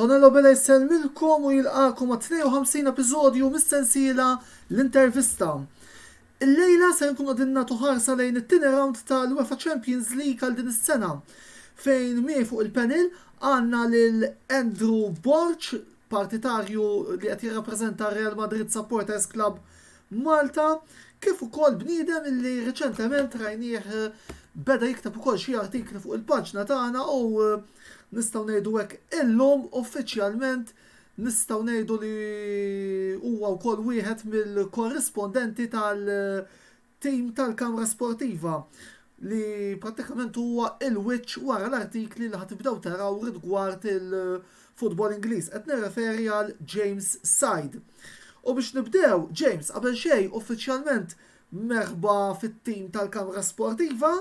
Antonello Bella jisselmilkom u jilqakom ma' 52 episodju mis-sensiela l-intervista. Il-lejla se nkun għadin natu ħarsa lejn it-tieni round tal-UEFA Champions League għal din is-sena fejn mie fuq il-panel għanna lil Andrew Borch partitarju li qed jirrappreżenta r-Real Madrid Supporters Club Malta, kif ukoll bniedem li riċentement rajnieh beda jikteb ukoll xi artikli fuq il-paġna tagħna u nistgħu ngħidu hekk illum uffiċjalment nistgħu ngħidu li huwa wkoll wieħed mill-korrispondenti tal- tim tal-Kamra Sportiva li prattikament huwa il-wiċċ wara l-artikli li ħatibdew taraw rigward il-futbol Ingliż. Qed nirreferi għal James Said. U biex nibdew, James, qabel xejn uffiċjalment merħba fit-tim tal-Kamra Sportiva,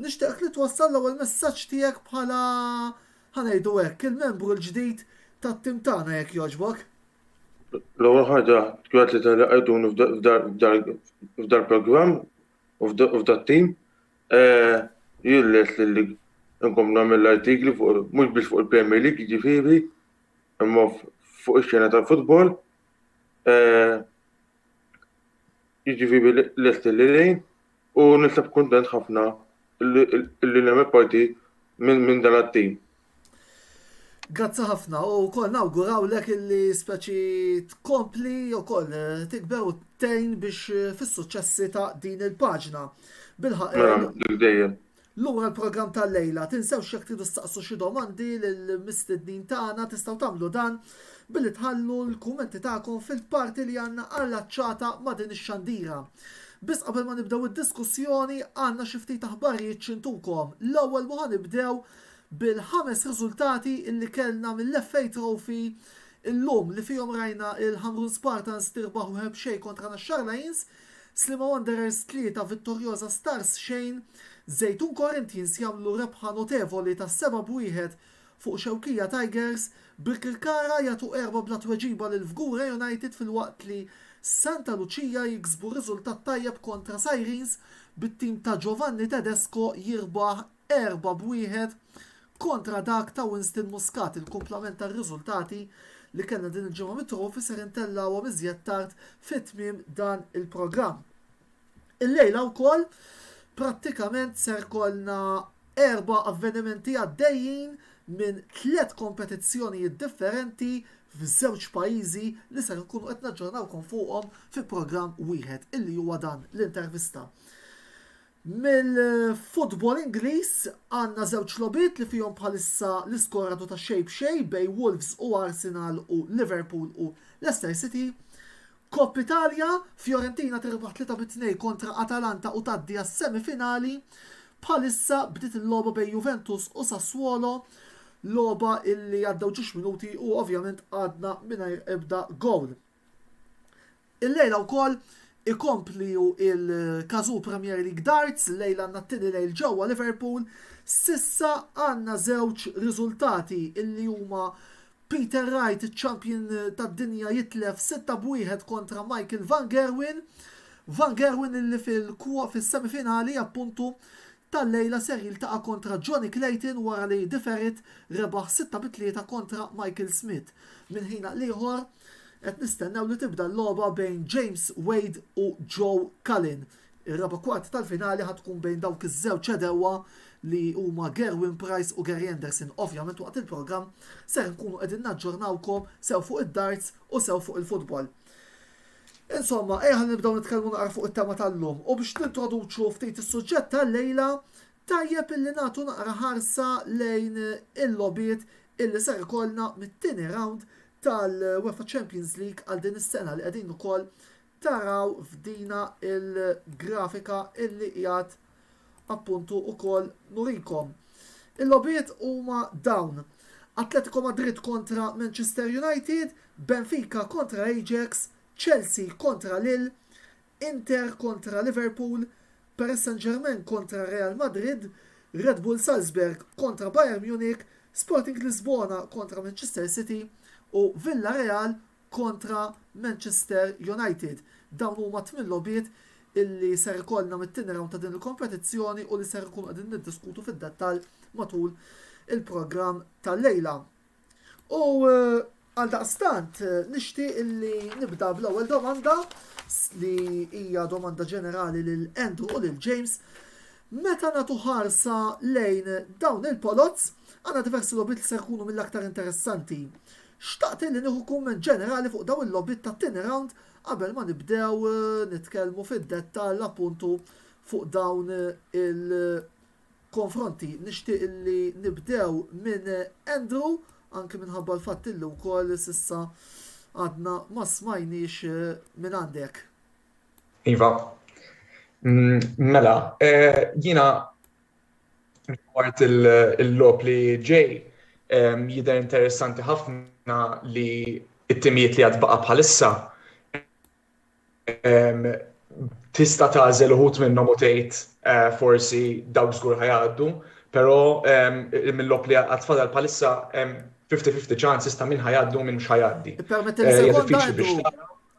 nixtieq li twassal l-ewwel messaġġ tiegħek bħala ħanejdu hekk il-membru l-ġdid tat-tim tagħna jekk jogħġbok. L-ewwel ħaġa, grazzi tal-li qegħduni f'dal-programm u f'dat-tim. Jien lest li nkompli nagħmel l-artikli fuq mhux biss fuq il-Premier League jiġifieri, imma fuq ix-xena tal-futbol. Jiġifieri lesti li ngħin u nisab kuntent ħafna li nagħmel parti minn dan it-tim. Grazzi ħafna u wkoll nawgurawlek illi speċi tkompli wkoll eh, tikber u tgħin biex eh, fis-suċċessi ta' din il-paġna. Bilħaq. Mela, eh, dejjem. Lura l-programm tal-lejla. Tinsewx jekk tridu ssaqsu xi domandi lill-mistednin tagħna tistgħu tagħmlu dan billi tħallu l-kummenti tagħkom fil-parti li għandna allaċċata ma' din ix-xandira. Biss qabel ma nibdew id-diskussjoni għandna xi ftit aħbarijiet xi ntukom. L-ewwel u ħa nibdew bil-ħames riżultati li kellna mill-FA Trophy illum li fihom rajna l-Ħamrun Spartans tirbaħ wieħed b'xejn kontra Naxxar Lions, Sliema Wanderers tlieta, Vittoriosa Stars xejn, Zejtun Corinthians jagħmlu rebħa notevoli ta' seba' b'wieħed fuq Xewkija Tigers, Birkirkara jagħtu erba' bla tweġiba lil Fgura United filwaqt li Santa Lucia jiksbu riżultat tajjeb kontra Sirens bit-tim ta' Giovanni Tedesco jirbaħ erba' b' wieħed kontra dak ta' Winston Muscat il-kumplament tar-riżultati li kellna din il-ġimgħa mit-trofi ser intellgħuhom iżjed tard fi tmiem dan il-programm. Illejla wkoll prattikament ser kollna erba' avvenimenti għaddejjin minn tliet kompetizzjonijiet differenti f'żewġ pajjiżi li ser inkunu qed naġġornawkom fuqhom fi programm wieħed illi huwa dan l-intervista. Mill-futbol Ingliż għandna żewġ logħbiet li fihom bħalissa l-iskorato ta' xejn b'xejn bejn Wolves u Arsenal u Liverpool u Leicester City. Kopp Italja, Fiorentina tirbaħ tlieta bi tnejn kontra Atalanta u tgħaddi għas-semi finali. Bħalissa bdiet il-logħba bejn Juventus u Sassuolo, logħba illi għaddew ġiex minuti u ovvjament għadna mingħajr ebda gowl. Illejla wkoll ikomplju il-Cazoo Premier League Darts, illejla għandna t-tieni lejl ġewwa Liverpool. S'issa għandna żewġ riżultati illi huma Peter Wright iċ-champion tad-dinja jitlef sitta b'wieħed kontra Michael Van Gerwen. Van Gerwen illi fil-semi finali appuntu tal-lejla ser jiltaqa' kontra Johnny Clayton wara li De Ferrit rebaħ sitta bi tlieta kontra Michael Smith. Minn ħin għal ieħor qed nistennew li tibda l-logħba bejn James Wade u Joe Cullen. Ir-raba' kwart tal-finali ħa tkun bejn dawk iż-żewġ għedewwa li huma Gerwyn Price u Gary Anderson. Ovvjament waqt il-programm ser inkunu qegħdin naġġornawkom sew fuq id-darts u sew fuq il-futbol. Insomma, ejja ħalli nibdew nitkellmu naqra fuq it-tema tal-lum u biex nintroduċu ftit is-suġġett tal-lejla, tajjeb illi nagħtu naqra ħarsa lejn il-logħbiet illi ser ikollna mit-tieni rawnd tal-UEFA Champions League għal din is-sena li qegħdin ukoll taraw f'dina l-grafika illi qiegħed appuntu ukoll nurikom. Il-logħbiet huma dawn, Atletico Madrid kontra Manchester United, Benfica kontra Ajax, Chelsea kontra Lille, Inter kontra Liverpool, Paris Saint-Germain kontra Real Madrid, Red Bull Salzburg kontra Bayern Munich, Sporting Lisbona kontra Manchester City u Villareal kontra Manchester United. Dawn huma t-tmien logħbiet illi ser ikollna mit-tieni rawnd ta' din il-kompetizzjoni u li ser inkunu qegħdin niddiskutu fid-dettall matul il-programm tal-lejla. U għaldaqstant nixtieq illi nibda bl-ewwel domanda li hija domanda ġenerali lil Andrew u lil James. Meta nagħtu ħarsa lejn dawn il-polots, għandna diversi logħbiet li ser ikunu mill-aktar interessanti. Xtaqt illi nieħu kumment ġenerali fuq dawn il-logħbiet tat-tieni rawnd qabel ma nibdew nitkellmu fid-dettall appuntu fuq dawn il-konfronti. Nixtieq illi nibdew minn Andrew, anki minħabba l-fatt illi wkoll s'issa għadna ma smajniex mingħandek. Iva. Mela, jiena Rigward il-logħob li ġej, jidher interessanti ħafna li t-timijiet li għad baqa' bħalissa tista' tagħżel uħud minnhom u tgħid eh, forsi dawk żgur ħajgħaddu, però mill-logħob li għad fadal bħalissa 50-50 ċans ista' min ħajgħaddu minn mhux ħajgħaddi. Eh,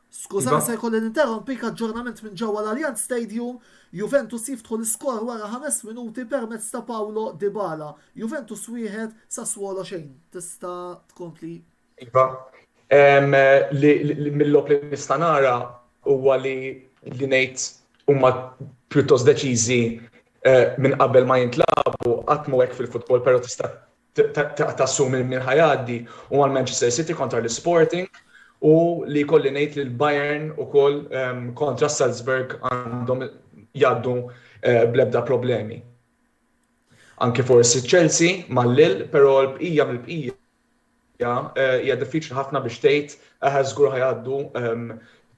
Skużani se jkolli ninterrompik, aġġornament minn ġewwa l-Allianz Stadium, Juventus jiftħu l-iskor wara ħames minuti permezz ta' Paulo Dybala. Juventus wieħed, Sassuolo xejn. Tista' tkompli. Iva, mill-logħob li nista' nara huwa li ngħid huma pjuttost deċiżi minn qabel ma jintlagħbu, qatt mhu hekk fil-futbol, però tista' tassumi min ħa jgħaddi u mal-Manchester City kontra l-Sporting u li jkolli ngħid li l-Bayern ukoll kontra s-Salzburg għandhom jgħaddu bl-ebda problemi. Anke forsi Chelsea mal-lil, però l-bqija mill-bqija hija diffiċli ħafna biex tgħid aħa żgur ħajgħaddu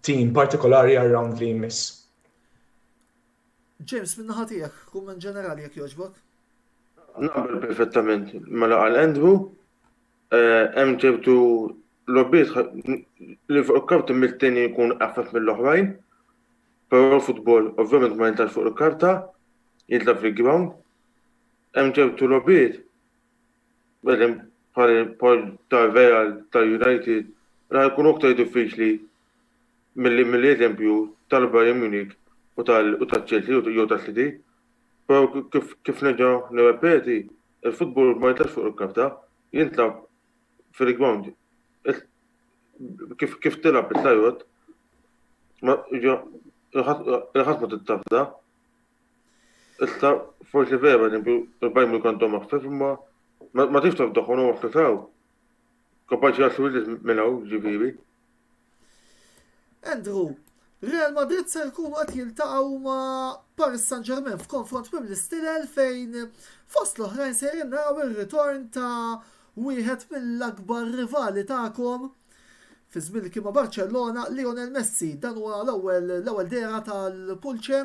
tim partikolari għar-round li jmiss. James, min-naħa tiegħek, kumment ġenerali jekk jogħġbok. Naqbel perfettament mela qal Andrew, eh, hemm ċertu lobbiet li fuq il-karta mit-tieni jkun affett mill-oħrajn, però futbol ovvjament ma jintax fuq il-karta, jidla fil-ground. Hemm ċertu lobbiet, bħedem bħal tal-Real, tal-United, ra jkun uktar diffiċli milli mill-eżempju tal-Bayern Munich u taċ-Chelsea jew tas-City. Però kif nerġa' nirrepeti, il-futbol ma jintlagħabx fuq il-karta, jintlagħab fil-grawnd. Kif tilgħab is-sajjod, il-ħadd ma tittafda. Issa forsi vera, eżempju, il-Bayern Munich għandhom aktar, imma ma tridx tafdahom, huma fl-ikel. Kompaċi għassuwidis minnaw, ġifieri. Andrew, Real Madrid se jkunu qed jiltaqgħu ma' Paris Saint-Germain f'konfront minn l-istilel fejn fost l-oħrajn se naraw ir-ritorn ta' wieħed mill-akbar rivali tagħkom fi żmien kien ma' Barcellona Lionel Messi dan huwa l-ewwel l-ewwel dera tal-Pulce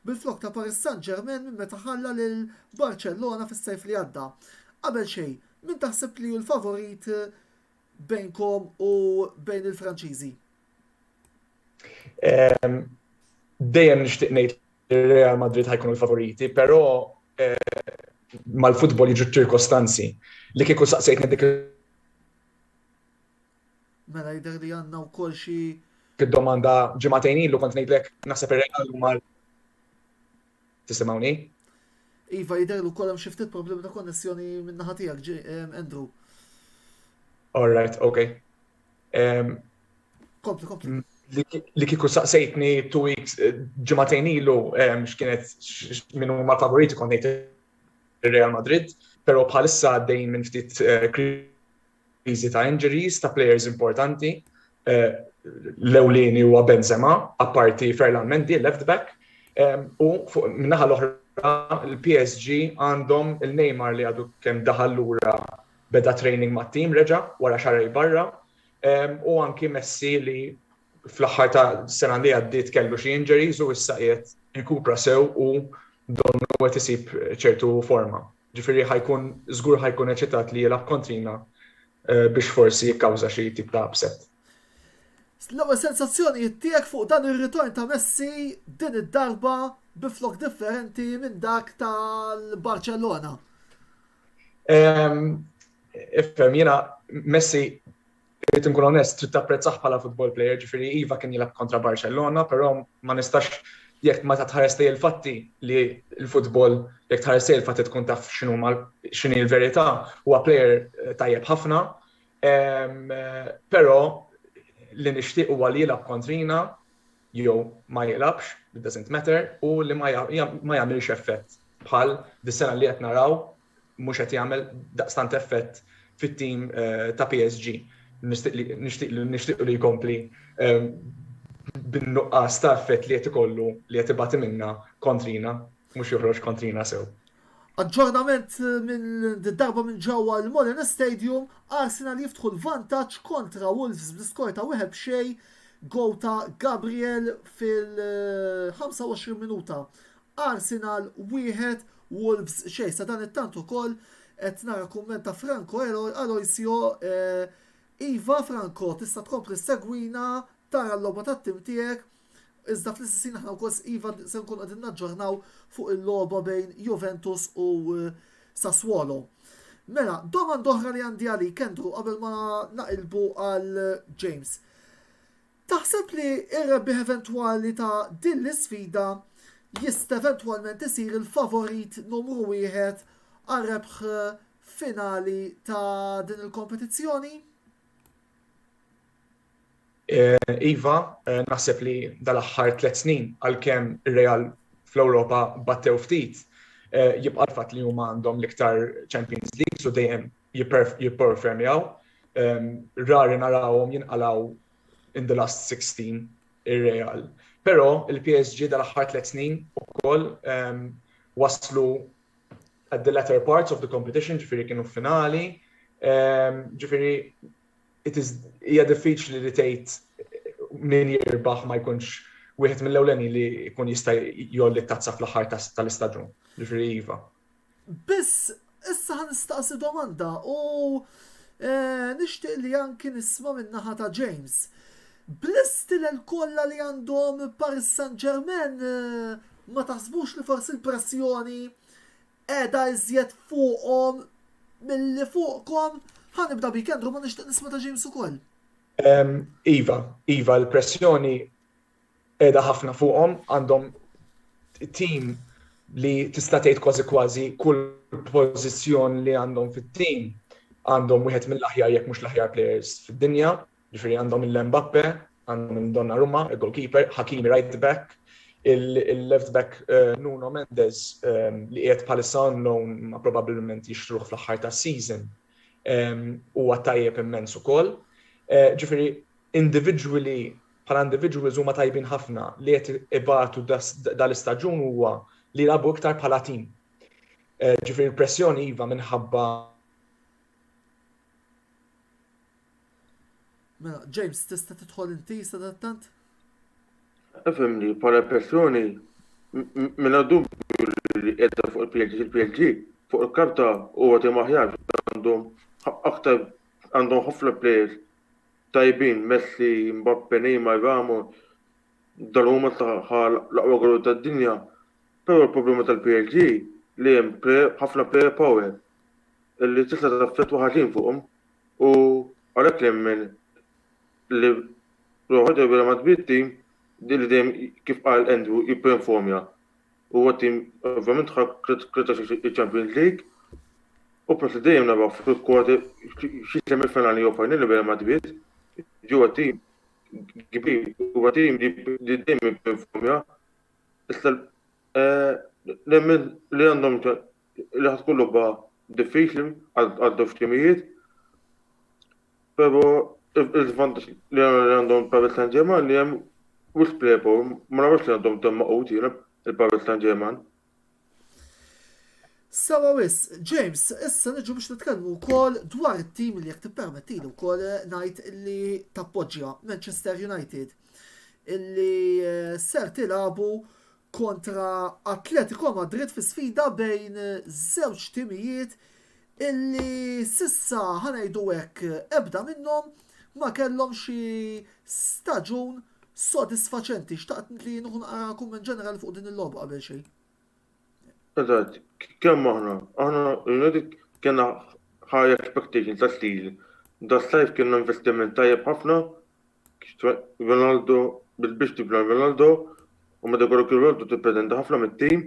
bil-flok ta' Paris Saint-Germain minn meta ħalla lil Barcellona fis-sajf li għadda. Qabel xejn, Min taħseb li hu l-favorit bejnkom u bejn il-Franċiżi? Ehm, dejjem nixtieq ngħid Real Madrid ħajkunu l-favoriti, però eh, mal-futbol jiġu ċirkostanzi li kieku saqsejtni dik Mela jidher li għandna wkoll xi domanda ġimagħtejn ilu kont ngħidlek naħseb ir-Real huma Tisimgħuni? Iva jidher ukoll hemm xi ftit problemi ta' konnessjoni minn naħa tiegħek, ehm, Andrew. All right, okay. Ehm, kompli, kompli. Mm, li kiku saqsejtni two weeks eh, ġimatejn ilu ehm, x'kienet minnu ma favoriti konnejt Real Madrid, pero bħalissa għaddejn minn ftit eh, l-avviżi ta' injuries ta' players importanti, l-ewlieni huwa Benzema, apparti Ferland Mendy, left back, u min-naħa l-oħra l-PSG għandhom il-Neymar li għadu kemm daħal lura beda training mat-team reġa' wara xahrejn barra, u anki Messi li fl-aħħar ta' sena li għaddiet kellu xi injuries u issa qiegħed jirkupra sew u donnu qed isib ċertu forma. Ġifieri ħa jkun żgur ħa jkun eċitat li jilgħab kontrina biex forsi jikkawża xi tip ta' upset. L-ewwel sensazzjonijiet tiegħek fuq dan ir-ritorn ta' Messi din id-darba bi flokk differenti minn dak tal-Barċellona? Ifhem, jiena Messi Irrid inkun onest, trid tapprezzah bħala football player, ġifieri iva kien jilgħab kontra Barcellona, però ma nistax jekk meta tħares lejn il-fatti li l-football jekk tħares lejn il-fatti tkun taf x'inhuma x'inhi l-verità, huwa player eh, tajjeb ħafna. Ehm, però li nixtieq huwa li jilgħab kontrina jew ma jilgħabx, it doesn't matter, u li ma jagħmilx effett bħal dis-sena li qed naraw mhux qed jagħmel daqstant effett fit-tim ta' PSG. Nixtieq li jkompli bin-nuqqas ta' effett li qed ikollu li qed ibati minnha kontrina, mhux joħroġ kontrina sew. Aġġornament darba minn ġewwa l-Molineux Stadium, Arsenal jiftħu l-vantaġġ kontra Wolves bl-iskor ta' wieħed b'xejn, gowl ta' Gabriel fil-25 minuta. Arsenal wieħed, Wolves xejn. Sadanittant ukoll qed nara kumment ta' Franco Aloisio, Iva Franco tista' tkompli ssegwina, tara l-logħba tat-tim tiegħek, iżda fl-istess ħin aħna wkoll iva se nkunu qegħdin naġġornaw fuq il-logħba bejn Juventus u Sassuolo. Mela, domanda oħra li għandi għalik Andrew qabel ma naqilbu għal James. Taħseb li r-rebbieħ eventwali ta' din l-isfida jista' eventwalment isir il-favorit numru wieħed għar-rebħ finali ta' din il-kompetizzjoni? Iva, naħseb li dal-aħħar tliet snin, għalkemm ir-Real fl-Ewropa battew ftit, jibqa' l-fatt li huma għandhom l-iktar Champions Leagues u dejjem jipperfemjaw. Rari narawhom jinqalgħu in the last 16 ir-Real. Però il-PSG dal-aħħar tliet snin ukoll waslu at the latter parts of the competition, ġifieri kienu finali, ġifieri hija diffiċli li tgħid min jirbaħ ma jkunx wieħed mill-ewleni li jkun jista' jolli t-tazza fl-aħħar tal-istaġun, ġifieri iva. Biss, issa ħa nistaqsi domanda u nixtieq li anki nisma' min-naħa ta' James. Bl-istilel kollha li għandhom Paris Saint-Germain ma taħsbux li forsi l-pressjoni qiegħda iżjed fuqhom milli fuqkom? Ħa nibda bik Andrew, imma nixtieq nisma' ta' James ukoll. Iva, iva, l-pressjoni qiegħda ħafna fuqhom, għandhom tim li tista' tgħid kważi kważi kull pożizzjon li għandhom fit-tim għandhom wieħed mill-aħjar jekk mhux l-aħjar players fid-dinja, ġifieri għandhom il-Mbappe, għandhom il-Donnarumma, il-goalkeeper, Hakimi right back, il-left back eh, Nuno Mendes eh, li qiegħed bħalissa on loan ma probabbilment jixtruh fl-aħħar tas-season eh, huwa tajjeb immens ukoll. Ġifieri individually bħala individuals huma tajbin ħafna li qed ibatu dan l-istaġun huwa li jilagħbu iktar bħala team. Ġifieri l-pressjoni iva minħabba Mela, James, tista tidħol inti sadattant? Efem li bħala pressjoni minna dubju li edda fuq il-PLG, il-PLG fuq il-karta u għati maħjar għandhom aktar għandhom ħafna players tajbin Messi, Mbappe, Neymar, Ramos dal-mument tagħha l-aqwa gol tad-dinja però l-problema tal-PSG li hemm ħafna player power li tista' taffettwa ħażin fuqhom u għalhekk nemmen li Rojo Debra ma tbidx team li dejjem kif qal Andrew jipperformja. Huwa tim ovvjament ħa krita il-Champions League u proset dejjem naraw fil quarter xi semi finali jew finali bejn Madrid. Ġewwa tim kbir, huwa tim li dejjem jipperformja. Issa nemmen li għandhom li ħad tkun logħba diffiċli għal żewġ timijiet. Però il-vantaġġ li għandhom Paris Saint-Germain li hemm wis plepo, ma nafx li għandhom temm maqut jiena il-Paris Saint-Germain. Sawa wis, James, issa niġu biex nitkellmu wkoll dwar it-tim li jekk tippermettili wkoll eh, ngħid li tappoġġja Manchester United illi eh, ser tilabu kontra Atletico Madrid fi sfida bejn żewġ timijiet illi s'issa ħa ngħidu hekk ebda minnhom ma kellhom xi staġun sodisfaċenti. Xtaqt li nieħu naqra kumment ġenerali fuq din il-logħba qabel xejn. Eżatt, kemm aħna, aħna l-Unedi kena high expectation ta' stil. Da sajf kienna investiment tajjeb ħafna Ronaldo biex biss tibla Ronaldo u meta jkollok Ronaldo tippretendi ħafna mit-tim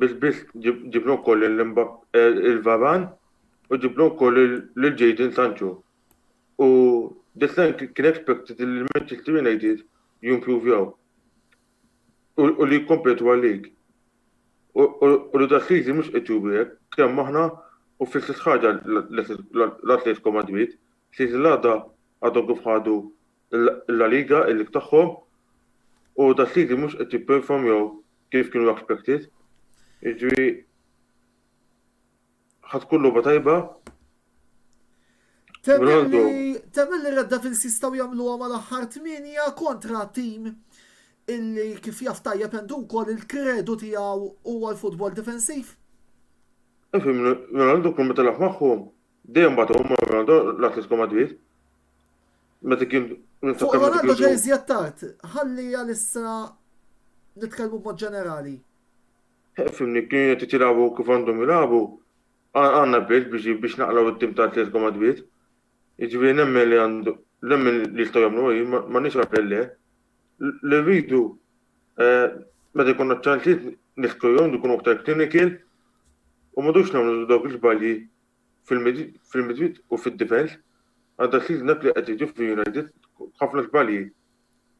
biex biss ġibna wkoll il-Varan u ġibna wkoll lil Jadon Sancho. U this line kien expected li Manchester United jimprovjaw u li jikkompetu għal-league. U li dal-season mhux qed juru hekk, kemm aħna u fl-istess ħaġa l-Atletico Madrid, Siet il-għada għadhom kif ħadu l-La Liga, il-lig tagħhom, u Da City mhux qed jipperformjaw kif kienu expected. Jiġri ħa tkun logħba tajba. Temmen li Red Devils jistgħu jagħmluha mal-aħħar tminja kontra tim illi kif jaf tajjeb għandu wkoll il-kredu tiegħu huwa l-futbol difensiv. Ifim, Ronaldo kun meta laħ magħhom, Dejjem bagħthom ma' Ronaldo l-Atletico Madrid. Meta kien Fuq Ronaldo ġej iżjed tard, ħalli għalissa nitkellmu b'mod ġenerali. Fimni, kien qed jitilgħabu kif għandhom jilagħbu, għandna bilt biex naqlgħu t-tim ta' Atletico Madrid. Jiġifieri nemmen li għandu nemmen li jistgħu jagħmlu hi, m'għandniex għalfejn le. Li rridu meta jkollna ċ-ċansijiet niskruhom, nkunu aktar clinical u m'għodux nagħmlu dawk l-iżbalji fil-midfield u fid-difenż għadha tliet ġnab li qed jiġu fi United b'ħafna żbalji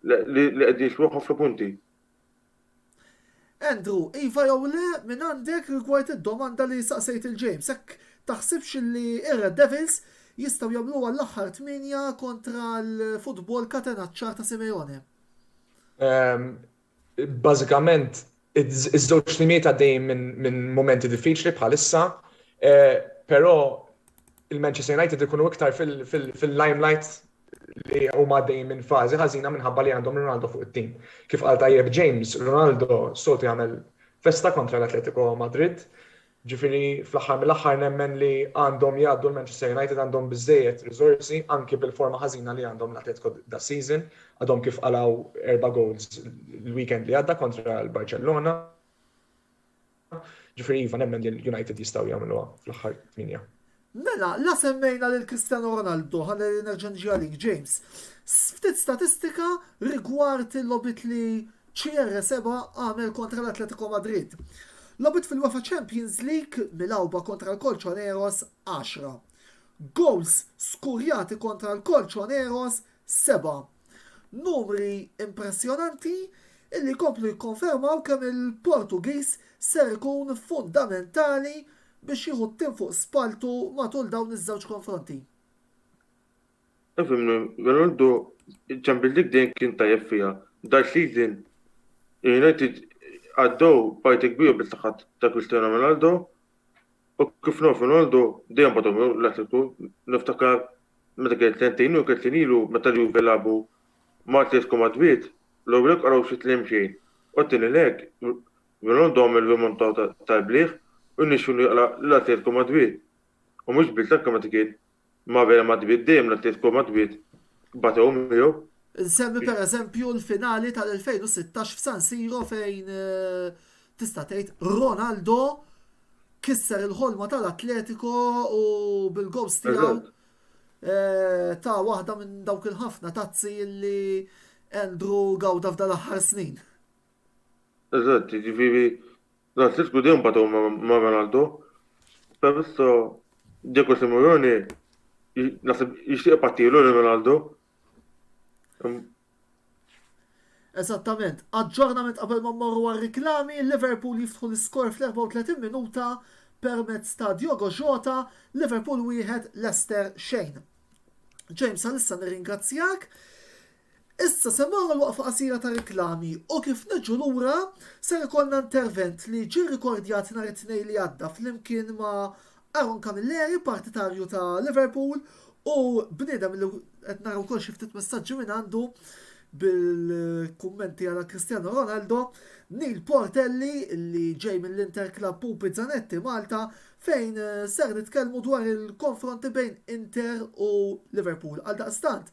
li qegħdin jiswew ħafna punti. Andrew, iva jew le mingħandek rigward id-domanda li saqsejt lil James, hekk taħsibx li r-Red Devils jistgħu jagħmluha l-aħħar tmienja kontra l-futbol katenaċċar ta' Simeone? Bażikament iż-żewġ timijiet għaddejjin minn mumenti diffiċli bħalissa, però il-Manchester United ikunu iktar fil-limelight li huma għaddejjin minn fażi ħażina minħabba li għandhom Ronaldo fuq it-tim. Kif qal tajjeb James, Ronaldo soltu jagħmel festa kontra l-Atletico Madrid, Ġifieri fl-aħħar mill-aħħar nemmen li għandhom jgħaddu l-Manchester United għandhom biżżejjed riżorsi anki bil-forma ħażina li għandhom l-Atletico das-season, għadhom kif qalgħu erba' goals l-weekend li għadda kontra l-Barċellona. Ġifieri iva nemmen li l-United jistgħu jagħmluha fl-aħħar tmienja. Mela, la semmejna lil Cristiano Ronaldo, ħa nerġa' niġi għalik, James. Ftit statistika rigward il-logħbiet li CR7 għamel kontra l-Atletico Madrid. Logħbiet fil-UEFA Champions League milgħuba kontra l-Colchoneros 10. Goals skurjati kontra l-Colchoneros 7. Numri impressjonanti illi jkomplu jikkonfermaw kemm il-Portugiż ser ikun fundamentali biex jieħu t-tim fuq spalltu matul dawn iż-żewġ konfronti. Ifhimni, Ronaldo Champions League dejjem kien tajjeb fiha. Dal season United għaddew parti kbira bil-saħħat ta' Cristiano Ronaldo u kif naf Ronaldo dejjem batom l-Atletiku niftakar meta kien sentejn u kien sinilu meta li Juve labu ma' Atletiku Madrid l-ewwel qaraw xi tlem xejn u t-tieni lek Minn għandhom il-Vimontò tal-Bliħ u jnexxilu jaqla' lil Atletico Madwid. U mhux biss l-anke meta kien ma' Real Madwid dejjem l-Atletico Madwid batew miegħu. Insemmi per eżempju l-finali tal-2016 f'San Siro fejn tista' tgħid Ronaldo kisser il-ħolma tal-Atletico u bil-gowls tiegħu ta waħda minn dawk il-ħafna tazzi li Andrew gawda f'dan l-aħħar snin. Eżatt, jiġifieri l-Atletiku dejjem batgħu ma' Ronaldo, però issa Diego Simeone naħseb jixtieq ibattilu lil Ronaldo. Eżattament. Aġġornament qabel ma mmorru għar-riklami, Liverpool jiftħu l-iskor fl-34 minuta permezz ta' Diogo Jota, Liverpool wieħed, Leicester xejn. James għalissa nirringrazzjak. Issa se morru għal waqfa qasira ta' riklami u kif niġu lura ser ikollna intervent li ġie rrikordjat nhar it-Tnejn li għadda flimkien ma' Aaron Camilleri, partitarju ta' Liverpool u bniedem li qed nara wkoll xi ftit messaġġi mingħandu bil-kummenti għal Cristiano Ronaldo, Neil Portelli li ġej mill-Inter Club Pupi Zanetti Malta fejn ser nitkellmu dwar il-konfronti bejn Inter u Liverpool. Għaldaqstant,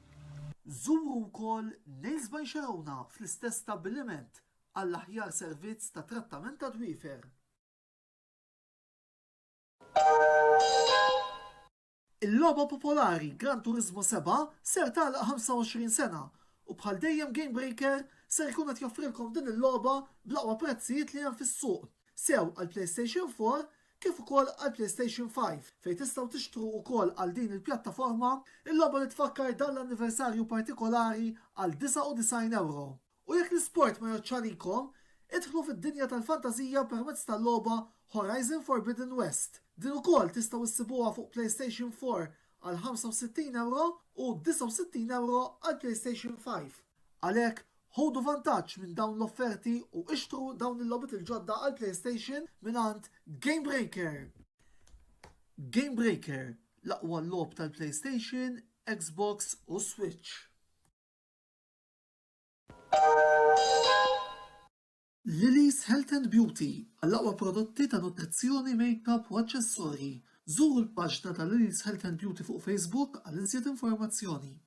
Żuru wkoll Nails by Xerowna fl-istess stabbiliment għall-aħjar servizz ta' trattament tad-dwiefer. Il-logħba popolari Gran Turismo Sebgħa ser tagħlaq 25 sena u bħal dejjem Game Breaker ser ikun qed joffrilkom din il-logħba bl-aqwa prezzijiet li hemm fis-suq, sew għall-PlayStation 4 kif ukoll għall-PlayStation 5, fejn tistgħu tixtru wkoll għal din il-pjattaforma, il-logħba li tfakkar dan l-anniversarju partikolari għal 99 ewro. U jekk l-isport ma jgħoddx għalikom, idħlu fid-dinja tal-fantażija permezz tal-logħba Horizon Forbidden West. Din ukoll tistgħu issibuha fuq PlayStation 4 għal 65 ewro u 69 ewro għall-PlayStation 5. Għalhekk, Ħudu vantaġġ minn dawn l-offerti u ixtru dawn il-logħbiet il-ġodda għall-PlayStation mingħand Gamebreaker! Gamebreaker, l-aqwa logħob tal-PlayStation, Xbox u Switch. Lily's Health and Beauty, għall-aqwa prodotti ta' nutrizzjoni, makeup u aċċessorji. Żuru l-paġna ta' Lily's Health and Beauty fuq Facebook għal iżjed informazzjoni.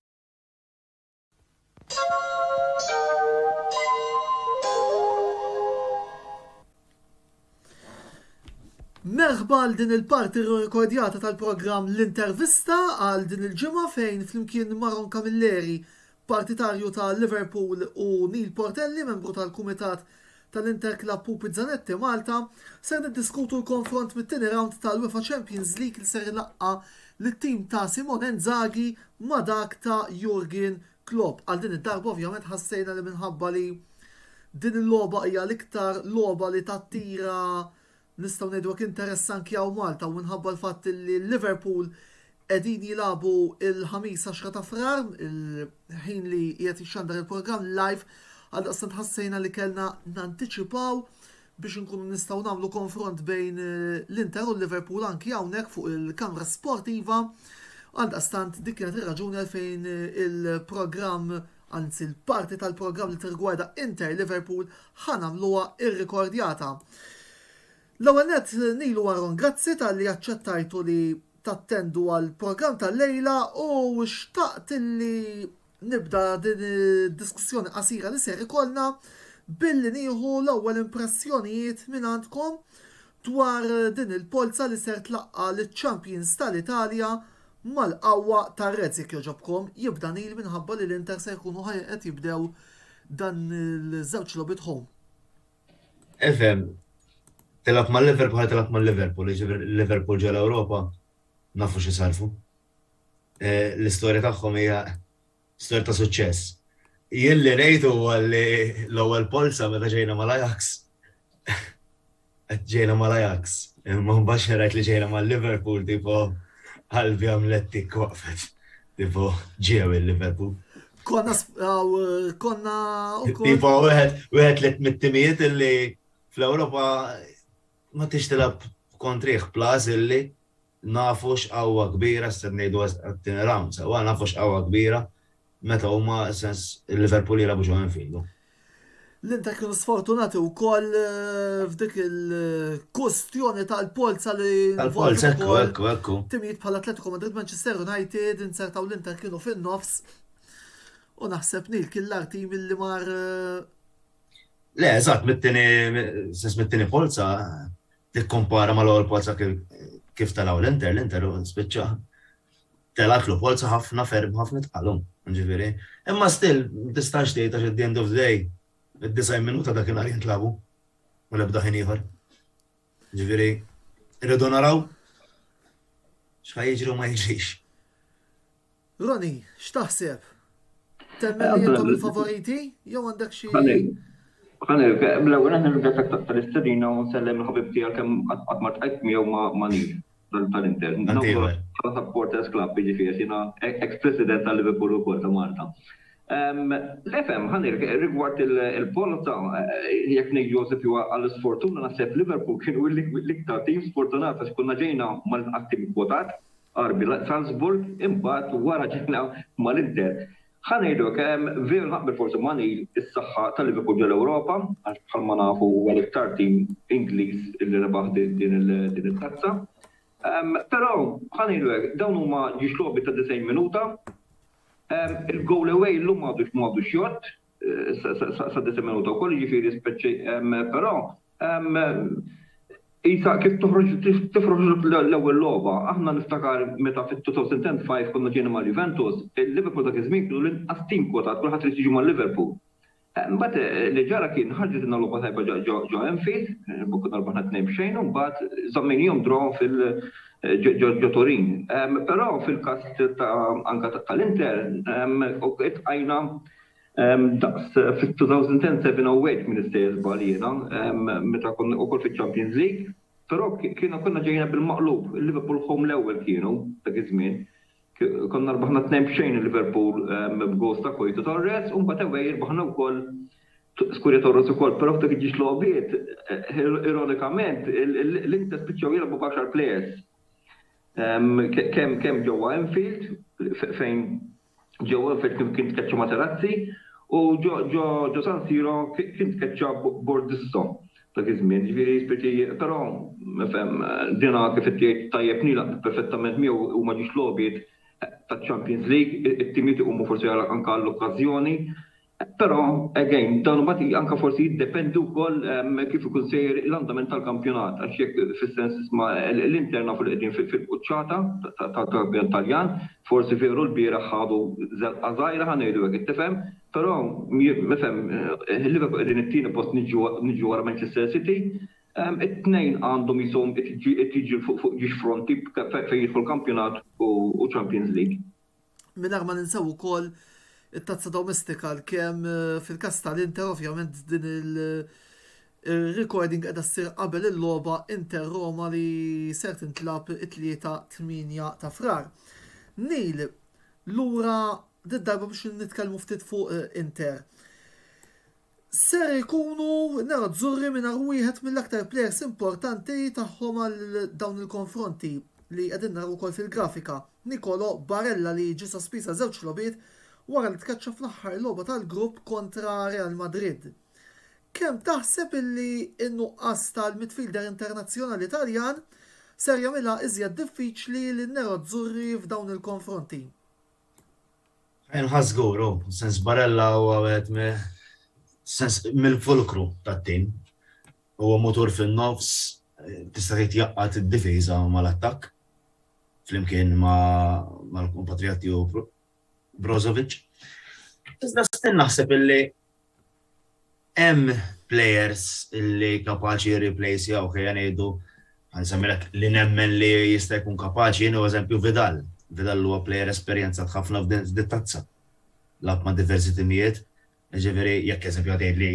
Merħba għal din il-parti rikodjata tal-programm L-Intervista għal din il-ġimgħa fejn flimkien Maron Camilleri, partitarju ta' Liverpool u Neil Portelli, membru tal-Kumitat tal-Interclub Pupi Zanetti Malta, ser niddiskutu l-konfront mit-tieni rawnd tal-UEFA Champions League li ser ilaqqa' lit-tim ta' Simone Inzaghi ma' dak ta' Jurgen Klopp. Għal din id-darba ovvjament ħassejna li minħabba li din il-logħba hija l-iktar logħba li tattira Nistgħu ngħidu hekk interess anki hawn Malta u minħabba l-fatt li Liverpool qegħdin jilagħbu l-Ħamis 10 ta' Frar, il-ħin li qiegħed jixxandar il-programm live, għaldaqstant ħassejna li kellna nantiċipaw biex inkunu nistgħu nagħmlu konfront bejn l-Inter u l-Liverpool anki hawnhekk fuq il-kamra sportiva. Għaldaqstant dik kienet ir-raġuni għalfejn il-programm anzi l-parti tal-programm li tirrigwarda Inter Liverpool ħa nagħmluha irrikordjata. L-ewwel nett nilu Aaron grazzi talli aċċettajtu li tattendu għal programm tal-lejla u xtaqt li nibda din id-diskussjoni qasira li ser ikollna billi nieħu l-ewwel impressjonijiet minn għandkom dwar din il-polza li ser tlaqqa' liċ-champions tal-Italja Mal-qawwa tar-Reds jekk jogħġobkom, jibda Neil minħabba li l-Inter se jkunu ħa qed jibdew dan iż-żewġ logħbiet home. Efhem, tilgħab mal-Liver bħal tilgħab mal-Liverpool, jiġifieri l-Liverpool ġol-Ewropa nafu xi sarfu. L-istorja tagħhom hija Stor ta' suċċess. Jien li rejt huwa li l-ewwel polza meta ġejna mal-Ajax, ġejna mal-Ajax, imma mbagħad xi rajt li ġejna mal-Liverpool tipo qalbi għamlet tikk waqfet. Tipo ġew il-Liverpool. Konna konna ukoll. Tipo wieħed li mit-timijiet illi fl-Ewropa ma tix tilab kontrih plus illi Nafu x'qawwa kbira, se ngħidu għat-tieni round sewwa, nafu x'qawwa kbira meta huma sens Liverpool jilagħbu ġo Anfield. L-Inter kienu sfortunati wkoll f'dik il-kwistjoni tal-polza li Tal-polza, ekku, ekku, ekku. Timijiet bħal Atletico Madrid, Manchester United inzertaw l-Inter kienu fin-nofs u naħseb Neil kien l-agħar tim li mar Le, eżatt, mit-tieni sens mit-tieni polza. Tikkumpara mal-ewwel polza kif telgħu l-Inter, l-Inter spiċċa telgħatlu polza ħafna ferm, ħafna itqal hu, jiġifieri. Imma still ma tistax tgħid għax at the end of the day id-90 minuta dakinhar jintlagħbu u l-ebda ħin ieħor. Jiġifieri rridu naraw x'ħa jiġri u ma jiġrix. Ronnie, x'taħseb? Temmen li jintom il-favoriti jew għandek xi. Ħani, l-ewwel aħna nirringrazzjak tal-istedina u nsellem il-ħabib tiegħek kemm qatt ma tqajt miegħu ma' nif tal-Inter. Bħala supporters club, jiġifieri jiena ex-president tal-Liverpool ukoll ta' Malta. L-FM, ħani, rigward il-polza, jekk ngħid Josef jew għall-isfortuna naħseb Liverpool kienu l-iktar tim sfortunat għax konna ġejna mal-qatt tim kwotat, RB Salzburg imbagħad wara ġejna mal-Inter. Ħa ngħidu hekk, veru naqbel forsi ma' Neil, is-saħħa ta' Liverpool ġol Ewropa għax bħalma nafu huwa l-iktar tim Ingliż li rebaħ din it-tazza. Però ħa ngħidu hekk, dawn huma ġiex logħbiet ta' 90 minuta. Il-goal away llum m'għadux m'għadux jgħodd, sa disa' minuta wkoll, jiġifieri speċi però qisha kif toħroġ tifroħ l-ewwel logħba. Aħna niftakar meta fit-2005 konna ġejna ma' Juventus, il-Liverpool dak iż-żmien kienu l-inqas tim kwotat, kulħadd irid jiġi ma' Liverpool. Imbagħad li ġara kien ħarġitilna logħba tajba ġo Anfield, konna rbaħna tnejn b'xejn u mbagħad żammejniehom draw fil ġo Turin. Però fil-każ anke tal-Inter, qajna Daqs fit-2010 seven awake minn istejjer żball jiena meta konna ukoll fiċ-Champions League. Però kienu konna ġejna bil-maqlub, il-Liverpool home l-ewwel kienu dak iż-żmien. Konna rbaħna tnejn b'xejn il-Liverpool b'gowls ta' Coito Torres u mbagħad away irbaħna wkoll Scuria Torres ukoll. Però f'dak il-ġiex logħbiet ironikament l-Inter spiċċaw jilgħbu b'għaxar players. Kemm ġewwa Anfield fejn ġo Anfield kien tkeċċa Materazzi u ġo San Siro kien tkeċċa Bordisso dak iż-żmien. Jiġifieri Spirti però fhem dinha kif qed tgħid tajjeb nilaq perfettament miegħu huma ġiex logħbiet taċ-Champions League, it-timiet iqumu forsi anke għall-okkażjoni. Però, again, dawn huma tqil anke forsi jiddependi wkoll kif ikun sejjer l-andament tal-kampjonat għax jekk fis-sens isma' l-Inter nafu li qegħdin fil-quċċata tal-kampjonat Taljan, forsi veru lbieraħ ħadu żelqa żgħira ħa ngħidu hekk qed tifhem, però ifhem Liverpool qegħdin it-tieni post niġu wara Manchester City, it-tnejn għandhom jisom qed jiġri fuq ġiex fronti fejn jidħol kampjonat u Champions League. Mingħajr ma ninsew ukoll it-tazza domestika l-kem fil-kas tal-Inter ovvjament din il-recording qiegħda ssir qabel il-logħba Inter Roma li ser tintlagħab it-Tlieta 8 ta' Frar. Neil, lura did-darba biex nitkellmu ftit fuq Inter. ser ikunu nerazzurri mingħajr wieħed mill-aktar plejers importanti tagħhom għal dawn il-konfronti, li qegħdin naraw ukoll fil-grafika, Nicolo Barella li ġie sospiż għal żewġ logħbiet wara li tkeċċa fl-aħħar logħba tal-grupp kontra Real Madrid. Kemm taħseb li n-nuqqas tal-midfielder internazzjonali Taljan ser jagħmilha iżjed diffiċli lin-nerazzurri f'dawn il-konfronti? Inħa żgur, hu, sens Barella huwa wieħed mi, sens, mill-fulkru tat-tim. Huwa mutur fin-nofs, tista' tgħid jgħaqqad id-difiża mal-attakk, flimkien ma' mal-kumpatrijat tiegħu Brozovic. Iżda stinn naħseb illi Hemm plejers li kapaċi jirriplejsjawh, ejja ngħidu, ħa nsemmilek li nemmen li jista' jkun kapaċi jien hu eżempju Vidal. Vidal huwa plejer esperjenzat ħafna f'din it-tazza. Lagħab ma' diversi timijiet, jiġifieri jekk eżempju ħa tgħidli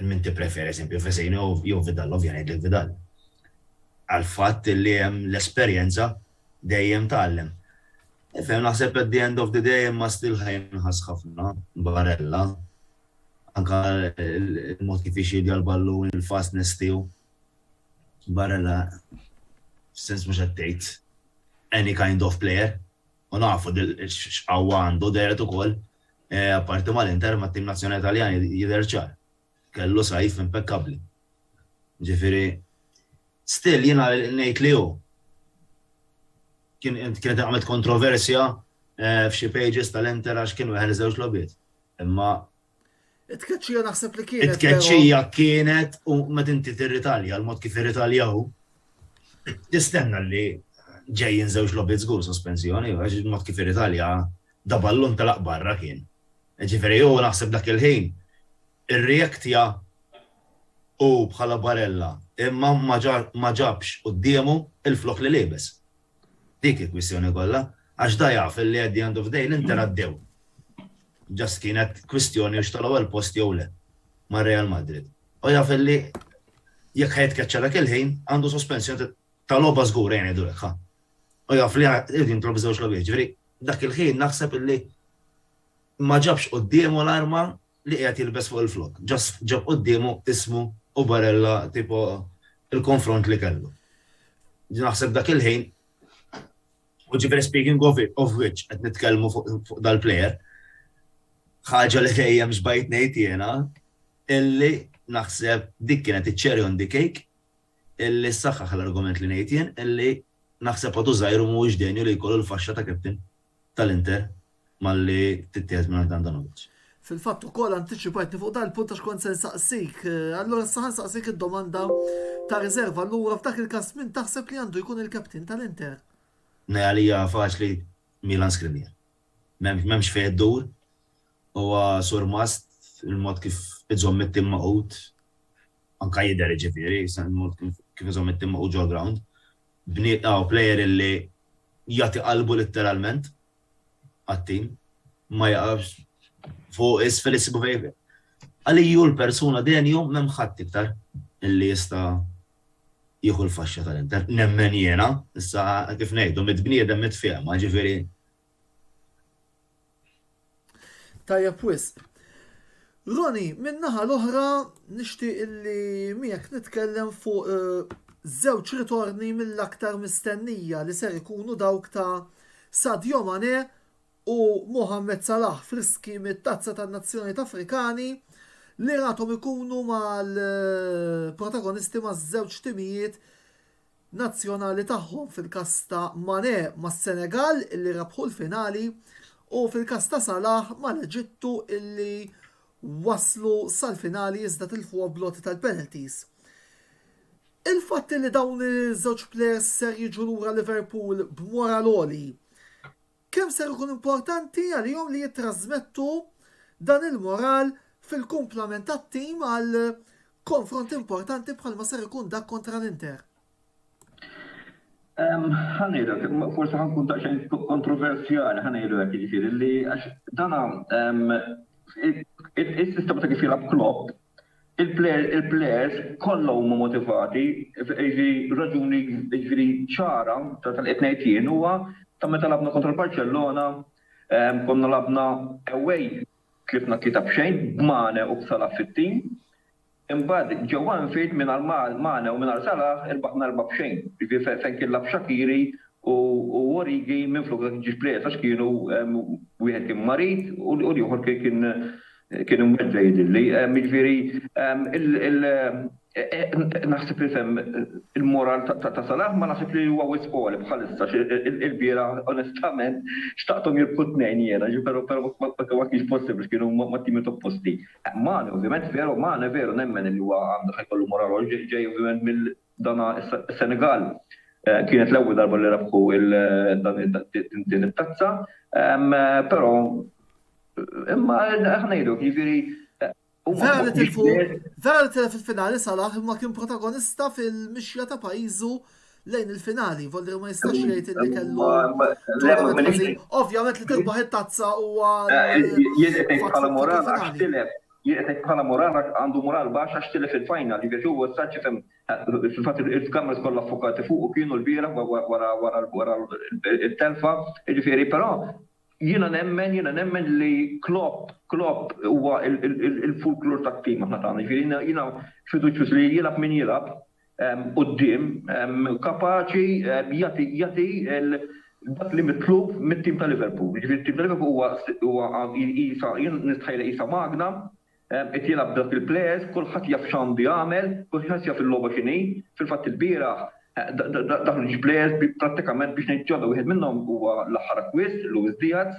min tippreferi eżempju Vecino jew Vidal, ovvja ngħidlek Vidal. Għall-fatt li hemm l-esperjenza Dejjem tgħallem. Nifhem naħseb at the end of the day imma still ħa jinħass ħafna Barella. Anke il-mod kif jixjieddja l-ballun, il-fastness tiegħu. Barella f'sens mhux qed tgħid any kind of player. U nafu x'qawwa għandu dehret ukoll apparti mal-Inter mat-tim nazzjonali Taljan jidher ċar. Kellu sajf impekkabbli. Jiġifieri, still jiena ngħid li hu kienet inqamet kontroversja f'xi pages tal-Inter għax kien weħel żewġ logħbiet. Imma. It-tkeċċija naħseb li kienet. It-tkeċċija kienet u meta inti tirritalja l-mod kif irritalja hu, tistenna li ġejjin żewġ logħbiet żgur sospensjoni għax il-mod kif irritalja daballun tal-aqbarra kien. Jiġifieri hu naħseb dak il-ħin irreactja hu bħala Barella imma ma ġabx quddiemu l-flokk li liebes. Dik il-kwistjoni kollha. Għax da jaf li at the end of the day l-Inter għaddew. Just kienet kwistjoni hux tal-ewwel post jew le ma' Real Madrid. U jaf li jekk ħa jitkeċċa dak il-ħin għandu sospensjoni ta' logħba żgur ejja ngħidulek ħa. U jaf li jrid jintlob żewġ logħbiet. Jiġifieri dak il-ħin naħseb li ma ġabx quddiemu l-arma li qiegħed jilbes fuq il-flokk, just ġab quddiemu ismu u barella tipo il-konfront li kellu. Naħseb dak il-ħin, u ġifieri speaking of of which qed nitkellmu fuq dal-player, ħaġa li dejjem xbajt ngħid jiena illi naħseb dik kienet iċ-cherry on the cake illi ssaħħaħ l-argument li ngħid jien illi naħseb Odu Żgħir mhuwiex denju li jkollu l-faxxa ta' captain. tal-Inter malli tittieħed mingħand Handanovic. Fil-fatt ukoll antiċipajtni fuq dan il-punt għax kont se nsaqsik. Allura issa ħa nsaqsik id-domanda ta' riserva. Allura f'dak il-każ min taħseb li għandu jkun il-captain tal-Inter? Nej għalija faċli Milan Skriniar. M'hemmx fejn iddur, huwa surmast il-mod kif iżomm it-tim magħqud, anke jidher jiġifieri, il-mod kif iżomm it-tim magħqud ġol-ground. Bnied aw plejer illi jagħti qalbu litteralment għat-tim, ma jaqafx fuq isfel issibu fejn. Għaliji hu l-persuna dejjem jew m'hemm ħadd iktar illi jista' jieħu l-faxxa tal-Inter. Nemmen jiena, issa kif ngħidu, mitt bniedem mitt fehma, jiġifieri Tajjeb wisq. Roni, min-naħa l-oħra nixtieq illi miegħek nitkellem fuq eh, żewġ ritorni mill-aktar mistennija li ser ikunu dawk ta' Sadio Mane u Mohamed Salah friski mit-tazza tan-Nazzjonijiet Afrikani li ratom ikunu mal-protagonisti eh, maż-żewġ timijiet nazzjonali tagħhom fil-każ ta' Mané mas-Senegal illi rebħu l-finali u fil-każ ta' Salah mal-Eġittu illi waslu sal-finali iżda tilfuha bl-għoti tal-penalties. Il-fatt illi dawn iż-żewġ plejers ser jiġu lura Liverpool b'moral għoli Kemm ser ikun importanti għalihom li jittrażmettu dan il-moral fil-kumplament tat-tim għal konfront importanti bħalma ser ikun dak kontra l-Inter? Ħa ngħidu hekk, forsi ħa nkun daqsxejn kontroversjali, ħa ngħidu hekk jiġifieri li għax dan is-sistema ta' kif jilgħab Klopp Il-plejers kollha huma motivati, jiġifieri raġuni jiġifieri ċara ta' dak li qed ngħid jien huwa ta' meta lagħbna kontra l-Barċellona konna lagħbna away tlifna tlieta b'xejn b'Mane u b'Salah fit-tim. Imbagħad ġewwa Anfield mingħajr Mane u mingħajr Salah irbaħna erbgħa b'xejn, jiġifieri fejn kien lagħab Shaqiri u Origi minflok dak iġiex plejers għax kienu wieħed kien marid u l-ieħor kien Kien imweddgħa jidhirli. Jiġifieri il naħseb li fhemm il-moral ta' Salah ma naħsibx li huwa wisq għoli bħalissa għax ilbieraħ onestament xtaqthom jirbħu t-tnejn jiena ġifieri però però ma kienx possibbli kienu mat-timiet opposti. Mane ovvjament veru Mane veru nemmen li huwa għandu ħajkollu moral għoli ġej ovvjament mill Dan is-Senegal kienet l-ewwel darba li rebħu din it-tazza, però imma aħna ngħidu jiġifieri Vera tilfu, vera li tilfu fil-finali Salah imma kien protagonista fil-mixja ta' pajjiżu lejn il-finali, volli ma jistax jgħid li kellu. Ovvjament li tilbaħ it-tazza huwa. Jien qed ngħid bħala moral għax tilef Jieqesek bħala mural għax għandu mural baxx għax tilef il-final, jiġifieri huwa issa ġifhem, fil-fatt il-cameras kollha ffukati fuqu kienu l-bieraħ wara t-telfa, jiġifieri però jiena nemmen, jiena nemmen li Klopp, Klopp huwa l-fulklur tat-tim aħna tagħna, jiġifieri jiena fiduċjuż li jilgħab min jilgħab, quddiem kapaċi jagħti jagħti dak li mitlub mit-tim ta' Liverpool. Jiġifieri t-tim ta' Liverpool huwa huwa qisha jien nistħajlha qisha magna, qed jilgħab b'dawk il-plejers, kulħadd jaf x'għandu jagħmel, kulħadd jaf il-logħba x'inhi. Fil-fatt il-bieraħ daħlu ġiex plejers bi prattikament biex ngħid ġodda, wieħed minnhom huwa l-aħħar akkwist, Luis Diaz,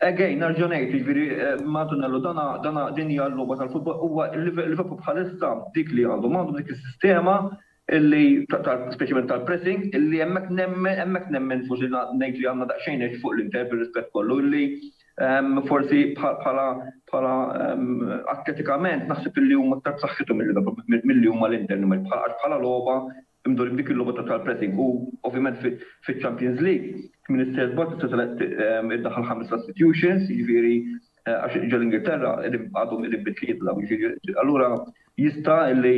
Again, nerġa' ngħid, jiġifieri ma' Antonello dana, dana, din hija l-logħba tal-futbol, huwa Liverpool bħalissa dik li għandhom, għandhom dik is-sistema li speċjalment tal-pressing li hemmhekk nemmen, hemmhekk nemmen forsi ngħid li għandna daqsxejn edge fuq l-Inter bir-rispett kollu li forsi bħala, bħala atletikament naħseb li huma aktar b'saħħithom il-Liverpool milli huma l-Inter, għax bħala logħba Imdorri b'dik il-logħba ta' tal-pressing u ovvjament fiċ-Champions League kmin is-sejħa żball tista' telgħeb iddaħħal ħames sustitutions, jiġifieri għax ġo l-Ingilterra għadhom qegħdin bi tlieta dawn, jiġifieri allura jista' li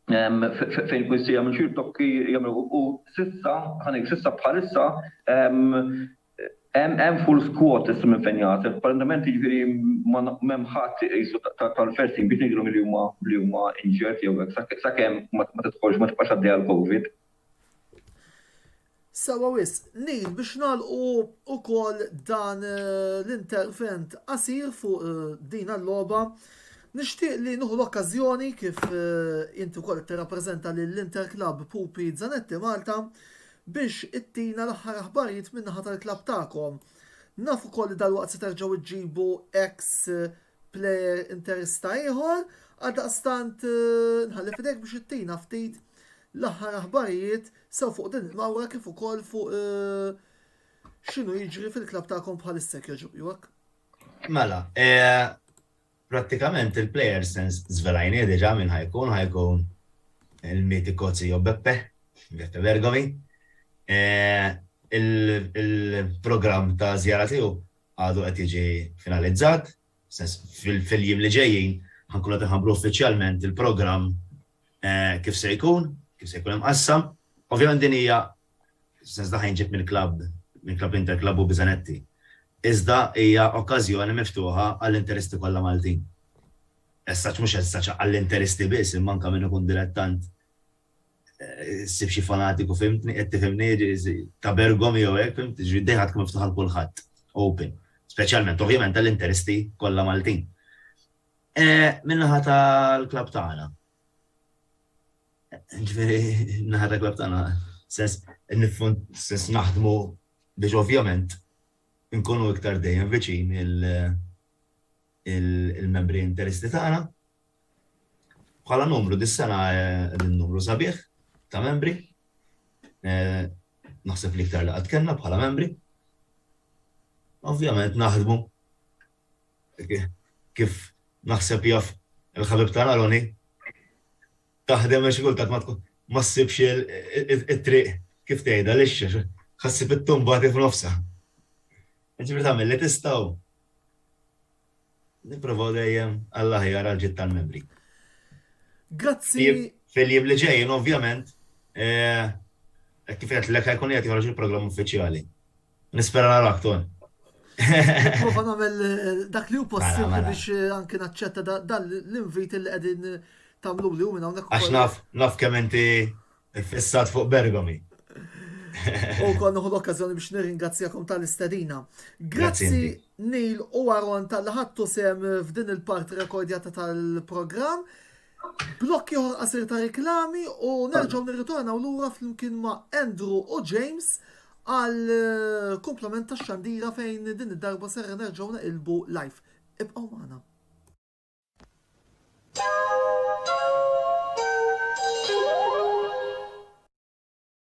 fejn ikun jista' jagħmel xi rtokki jagħmlu u s'issa, ħa ngħid s'issa bħalissa, Hemm full squad issa minn fejn jagħti, apparentement jiġifieri m'hemm ħadd iqisu tal-first team biex ngħidilhom li huma li huma injured jew hekk sakemm ma tidħolx ma tibqax għaddejja l-Covid. Sewwa wisq. Neil, biex nagħlqu wkoll dan l-intervent qasir fuq din l-logħba, nixtieq li nieħu l-okkażjoni kif inti wkoll qed tirrappreżenta lill-Interclub Pupi Zanetti Malta biex ittina l-aħħar aħbarijiet min-naħa tal-klabb tagħkom. Naf ukoll li dalwaqt se terġgħu ġġibu ex player interista ieħor, għaldaqstant nħalli fidejk biex ittina ftit l-aħħar aħbarijiet sew fuq din il-mawra kif ukoll fuq x'inhu jiġri fil-klabb tagħkom bħalissa jogħġbok. Mela, Prattikament il-player sense żvelajnieh diġà min ħa jkun, ħa jkun il-mitiku Zio Beppe, Beppe Bergomi. Il-programm ta' żjara tiegħu għadu qed jiġi finalizzat, fis-sens fil-jiem li ġejjin ħa nkunu qed inħabbru uffiċjalment il-programm kif se jkun, kif se jkun imqassam. Ovvjament din hija Fis-sens tagħha jinġieb mill-klabb, minn Klabb Inter Klabu Biżanetti. Iżda hija okkażjoni miftuħa għall-interisti kollha Maltin. Essaċ mhux essaċ għall-interisti biss imma anke min ikun dilettant issib xi fanatiku fhimtni qed tifhimni ta' Bergom jew hekk fhimt, jiġifieri d-dehra tkun miftuħa għal kulħadd, open. Speċjalment ovvjament għall-interisti kollha Maltin. Min-naħa tal-klabb tagħna, Ġveri, naħra klab tana, sens, nifun, sens naħdmu biex ovvjament nkunu iktar dejjem viċin il-membri interisti tagħna. Bħala numru dis-sena eh, din numru sabiħ ta' membri. Eh, naħseb li iktar li qatt kellna bħala membri. Ovvjament naħdmu kif naħseb jaf il-ħabib tagħna Ronnie, taħdem għax xi kultant ma tkun ma ssibx it-triq kif tgħidha lixxa, ħa ssib it-tumba tiegħek f'nofsha. Jiġifieri tagħmel li tista' u nipprovaw dejjem għall-aħjar għal ġid tal-membri. Grazzi. Fil-jiem li ġejjin ovvjament kif qed l-ek ħajkun qed joħroġ il-programm uffiċjali. Nispera narak ton. Nipprova nagħmel dak li hu possibbli biex anke naċċetta dan l-invit li qegħdin tagħmlu li hu minn hawnhekk. Għax naf naf kemm inti ffissat fuq Bergomi. U wkoll nieħu l-okkażjoni biex nirringrazzjakom tal-istedina. Grazzi Neil u Aaron tal-li ħadtu sehem f'din il-parti rekordjata tal-programm. Blokk ieħor qasir ta' riklami u nerġgħu nirritornaw lura flimkien ma' Andrew u James għal eh, komplement ta' xandira fejn din id-darba serra nerġgħu naqilbu live. Ibqgħu magħna.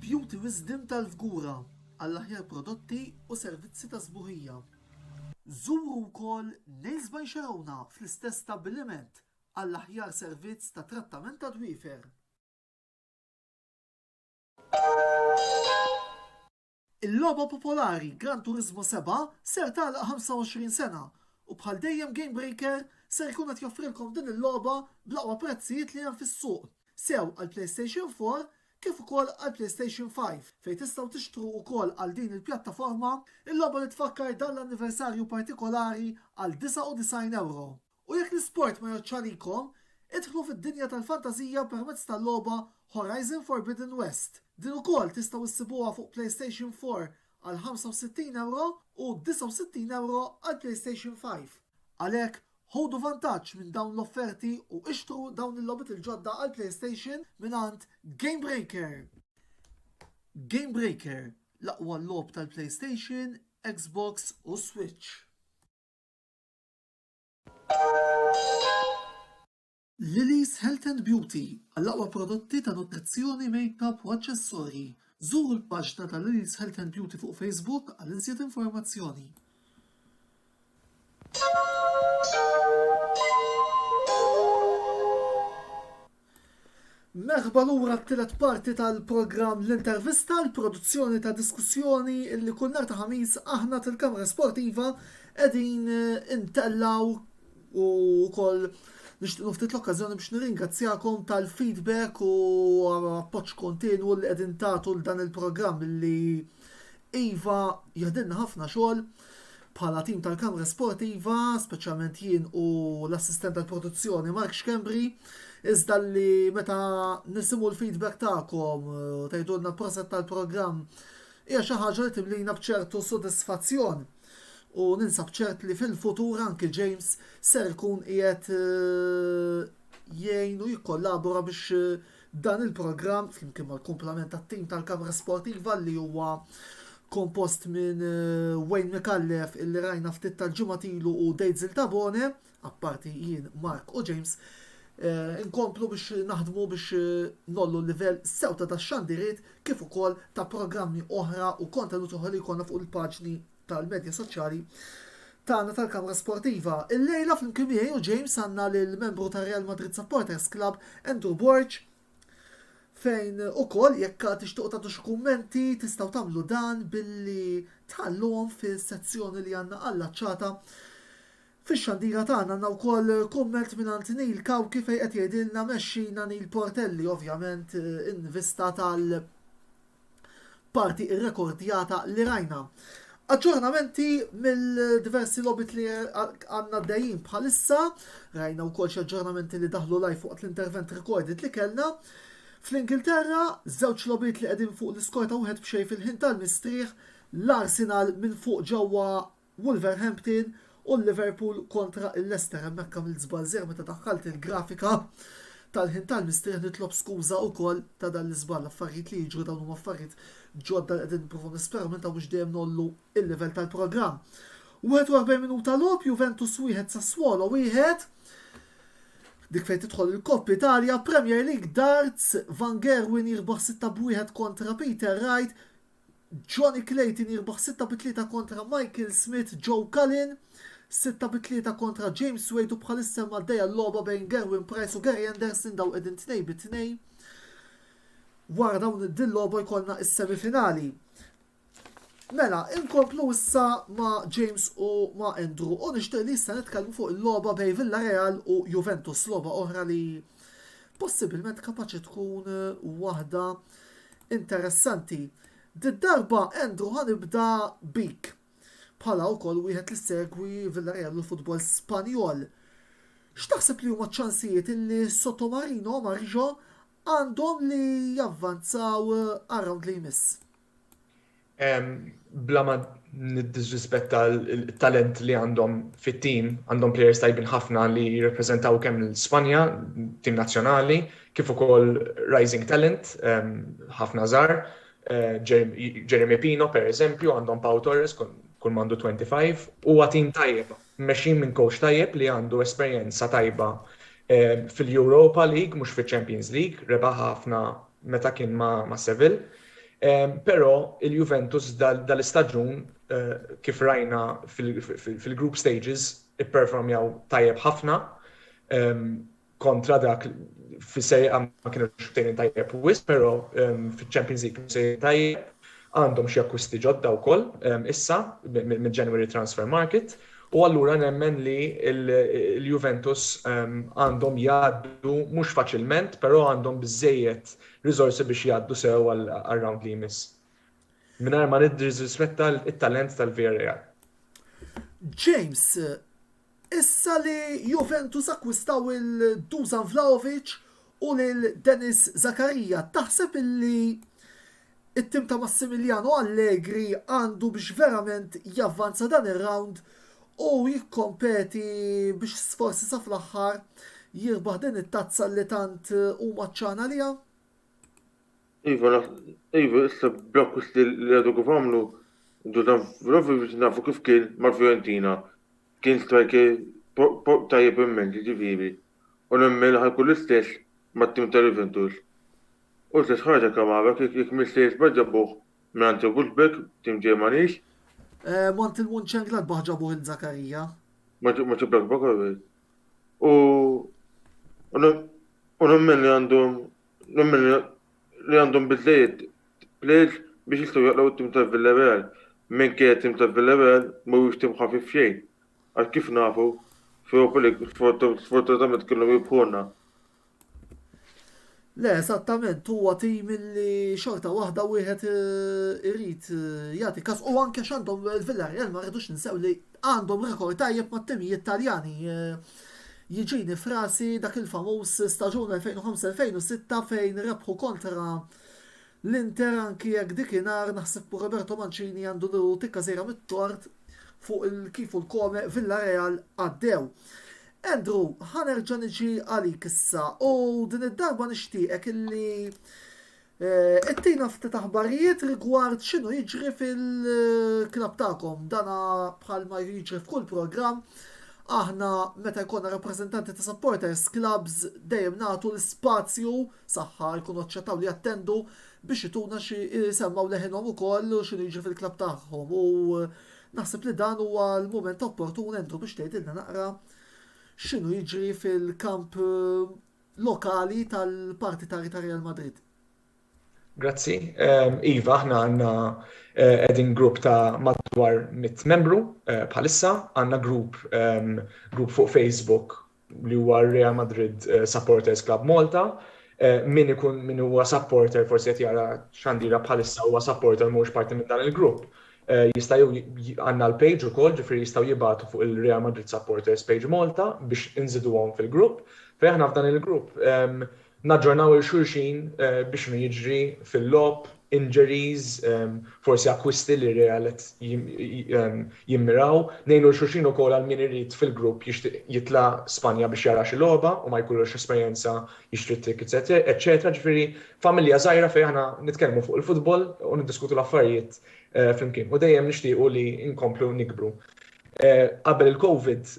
Beauty Wisdom tal-Fgura għall-aħjar prodotti u servizzi ta' sbuħija. Żuru wkoll Nails by Xerowna fl-istess stabbiliment għall-aħjar servizz ta' trattament tad-dwiefer. Il-logħba popolari Gran Turismo Sebgħa ser tagħlaq 25 sena u bħal dejjem Gamebreaker ser ikun qed joffrilkom din il-logħba bl-aqwa prezzijiet li hemm fis-suq, sew għall-PlayStation 4 kif ukoll għall-PlayStation 5 fejn tistgħu tixtru ukoll għal din il-pjattaforma il-logħba li tfakkar dan l-anniversarju partikolari għal 99 ewro. U jekk l-isport ma jgħoddx għalikom, idħlu fid-dinja tal-fantażija permezz tal-logħba Horizon Forbidden West. Din ukoll tistgħu ssibuha fuq PlayStation 4 għal €65 u €69 għal PlayStation 5. Għalhekk, ħudu vantaġġ minn dawn l-offerti u ixtru dawn il-logħbiet il-ġodda għall-PlayStation mingħand Gamebreaker! Gamebreaker, l-aqwa logħob tal-PlayStation, Xbox u Switch. Lily's Health and Beauty, Għall-aqwa prodotti ta' nutrizzjoni, makeup u aċċessorji, żuru l-paġna ta' Lily's Health and Beauty fuq Facebook għal iżjed informazzjoni. Merħba lura t-tielet parti tal-programm L-Intervista, l-produzzjoni ta' diskussjoni li kull nhar ta' Ħamis aħna tal-Kamra Sportiva qegħdin eh, intellaw u wkoll nixtiequ ftit l-okkażjoni biex nirringrazzjakom tal-feedback u appoġġ kontinwu li qegħdin tagħtu l dan il-programm li iva jaħdilna ħafna xogħol Bħala tim tal-Kamra Sportiva, speċjalment jien u l-assistent tal-produzzjoni Mark Xkembri, iżda li meta nisimu l-feedback tagħkom u eh, tgħidulna proset tal-programm hija xi ħaġa li timlina bċertu sodisfazzjon. U ninsab ċert li fil-futur anki James ser ikun qiegħed eh, jgħin u jikkollabora biex eh, Dan il-programm, flimkien mal-kumplament tat-tim tal-Kamra Sportiva li huwa kompost minn Wayne Micallef illi rajna ftit tal-ġimgħat ilu u Dejtzil Tabone, apparti jien, Mark u James, inkomplu biex naħdmu biex ngħollu l-livell sew ta' dax-xandiriet kif ukoll ta' programmi oħra u kontenut oħra li jkollna fuq il-paġni tal-Medja Soċjali tagħna tal-Kamra Sportiva. Illejla flimkien miegħi u James għandna lill-membru tar-Real Madrid Supporters Club Andrew Borg fejn ukoll jekk tixtuq tagħtu xi kummenti tistgħu tagħmlu dan billi tħalluhom fis-sezzjoni li għandna allaċċata Fix-xandira tagħna għandna wkoll kumment minn għand Neil Kawki fejn qed jgħidilna mexxina Neil Portelli ovvjament eh, in vista tal- parti irrekordjata li rajna. Aġġornamenti mill-diversi lobit li għanna dejjin bħalissa, rajna wkoll xi aġġornamenti li daħlu laj fuq l-intervent recorded li kellna. Fl-Ingilterra, żewġ lobit li qegħdin fuq l-iskorta wieħed b'xej fil-ħin tal-mistrieħ, l-Arsenal minn fuq ġewwa Wolverhampton u Liverpool kontra l-Leicester hemmhekk għamilt żball seħħ meta daħħalt il-grafika tal-ħin tal-mistrieħ nitlob skuża wkoll ta' dan l-iżball affarijiet li jiġru dawn huma affarijiet ġodda li qegħdin nipprovaw nisperaw minn ta' mhux dejjem ngħollu l-livell tal-programm 41 minuta logħob Juventus 1 Sassuolo 1 dik fejn tidħol il-Kopp Italja Premier League Darts Van Gerwen jirbaħ 6 b'1 kontra Peter Wright Johnny Clayton jirbaħ 6 bi 3 kontra Michael Smith, Joe Cullen 6 bi 3 kontra James Wade u bħalissa hemm għaddejja l-logħba bejn Gerwyn Price u Gary Anderson dawn qegħdin 2 bi 2. Wara dawn din logħba jkollna is-semi finali. Mela, inkomplu issa ma' James u ma' Andrew u nixtieq li issa nitkellmu fuq il-logħba bejn Villarreal u Juventus, logħba oħra li possibilment kapaċi tkun waħda Interessanti. Did-darba Andrew ħa nibda bik. Bħala wkoll wieħed li segwi Villarreal u l-futbol Spanjol. X'taħseb li huma ċ-ċansijiet illi Sotomarino u Marjo għandhom li javvanzaw għar-rawnd li jmiss? Bla ma niddisrispetta l-talent li għandhom fit-tim, għandhom players tajbin ħafna li jirrepreżentaw kemm l-Spanja, tim nazzjonali, kif ukoll rising talent, ħafna żgħar, Jeremy Pino per eżempju, għandhom Pau Torres kull mandu 25, huwa tim tajjeb, mmexxin minn kowċ tajjeb li għandu esperjenza tajba fil-Europa League mhux fiċ-Champions League, rebaħha ħafna meta kien ma' Seville. Però il-Juventus dal-istaġun kif rajna fil-group stages ipperformjaw tajjeb ħafna. kontra dak fis-Serie A ma kienux btejn tajjeb wisq, però ehm, fiċ-Champions League se tajjeb għandhom xi akkwisti ġodda wkoll ehm, issa minn January Transfer Market u allura nemmen li l-Juventus ehm, għandhom jgħaddu mhux faċilment, però għandhom biżejjed riżorsi biex jgħaddu sew għal-round li jmiss. Minar ma nidriżrispetta il-talent tal-VRA. James, Issa li Juventus akkwistaw lil Dusan Vlahovic u lil Denis Zakaria, taħseb illi t-tim ta' Massimiliano Allegri għandu biex verament javvanza dan ir-round u jikkompeti biex forsi sa fl-aħħar jirbaħ din it-tazza li tant hu mgħattxan għaliha? Iva, iva, issa bl-akkwist li għadu kif għamlu, Dudan Vlahovic nafu kif kien mal-Fiorentina. Kien striker tajjeb immens, jiġifieri. U nemmen li ħajkun l-istess mat-tim ta' Juventus. U l-istess ħaġa Kamara, jekk m'iniex sejjer żball ġabuh mingħand Wolfsburg, tim Ġermaniż. Mant il-Munchengladbach ġabuh lil Zakaria. Monchengladbach, all right. U nemmen li għandhom L-Ommen li għandhom biżżejjed plejers biex jistgħu jaqlgħu t-tim ta' Villarreal, minkejja t-tim ta' Villarreal mhuwiex tim ħafif xejn, għax kif nafu, f'Europa League sfortunatament kellhom jirbħulna. Le, eżattament, huwa tim li xorta waħda wieħed irid jagħti każ u anke x'għandhom il-Villarreal ma rridux ninsew li Għandhom rekord tajjeb mat-timijiet Taljani. Jiġini f'rasi dak il-famuż staġun 2005-2006 fejn rebħu kontra l-Inter anki jekk dikinhar naħseb Roberto Mancini għandu nieħu tikka sejra mit-tort fuq il-kif u l-kome Villareal għaddew. Andrew, ħa nerġa' niġi għalik issa u din id-darba nixtieqek illi Ittina ftit aħbarijiet rigward x'inhu jiġri fil-klabb tagħkom. Dana bħalma jiġri f'kull programm, aħna meta jkollna rappreżentanti ta' supporters clubs dejjem nagħtu l-ispazju, saħħa jkunu aċċettaw li jattendu, biex ituna xi jsemmgħu leħinhom ukoll u x'inhu jiġri fil-klabb tagħhom. U naħseb li dan huwa l-mument opportun Andrew biex tgħidilna naqra x'inhu jiġri fil-kamp lokali tal-partitari ta' Real Madrid. Grazzi. Iva, aħna għandna qegħdin grupp ta' madwar mitt membru bħalissa. Għandna grupp grupp fuq Facebook li huwa Real Madrid Supporters Club Malta. Min ikun min huwa supporter forsi qed jara x'għandira bħalissa huwa supporter mhuwiex parti minn dan il-grupp. Jista' jew għandna l-page ukoll, ġifieri jistgħu jibgħatu fuq il-Real Madrid Supporters Page Malta biex inżiduhom fil-grupp. Fejn aħna f'dan il-grupp naġġornaw 'il xulxin bi x'inhu jiġri fil-logħob, injuries, forsi akkwisti li r-Real qed jimmiraw. Ngħinu 'l xulxin ukoll għal min irid fil-grupp jixtieq jitla' Spanja biex jara xi logħba u ma jkollux esperjenza jixtri t-tickets eċċetera. Ġifieri familja żgħira fejn aħna nitkellmu fuq il-futbol u niddiskutu l-affarijiet flimkien u dejjem nixtiequ li nkomplu nikbru. Qabel il-Covid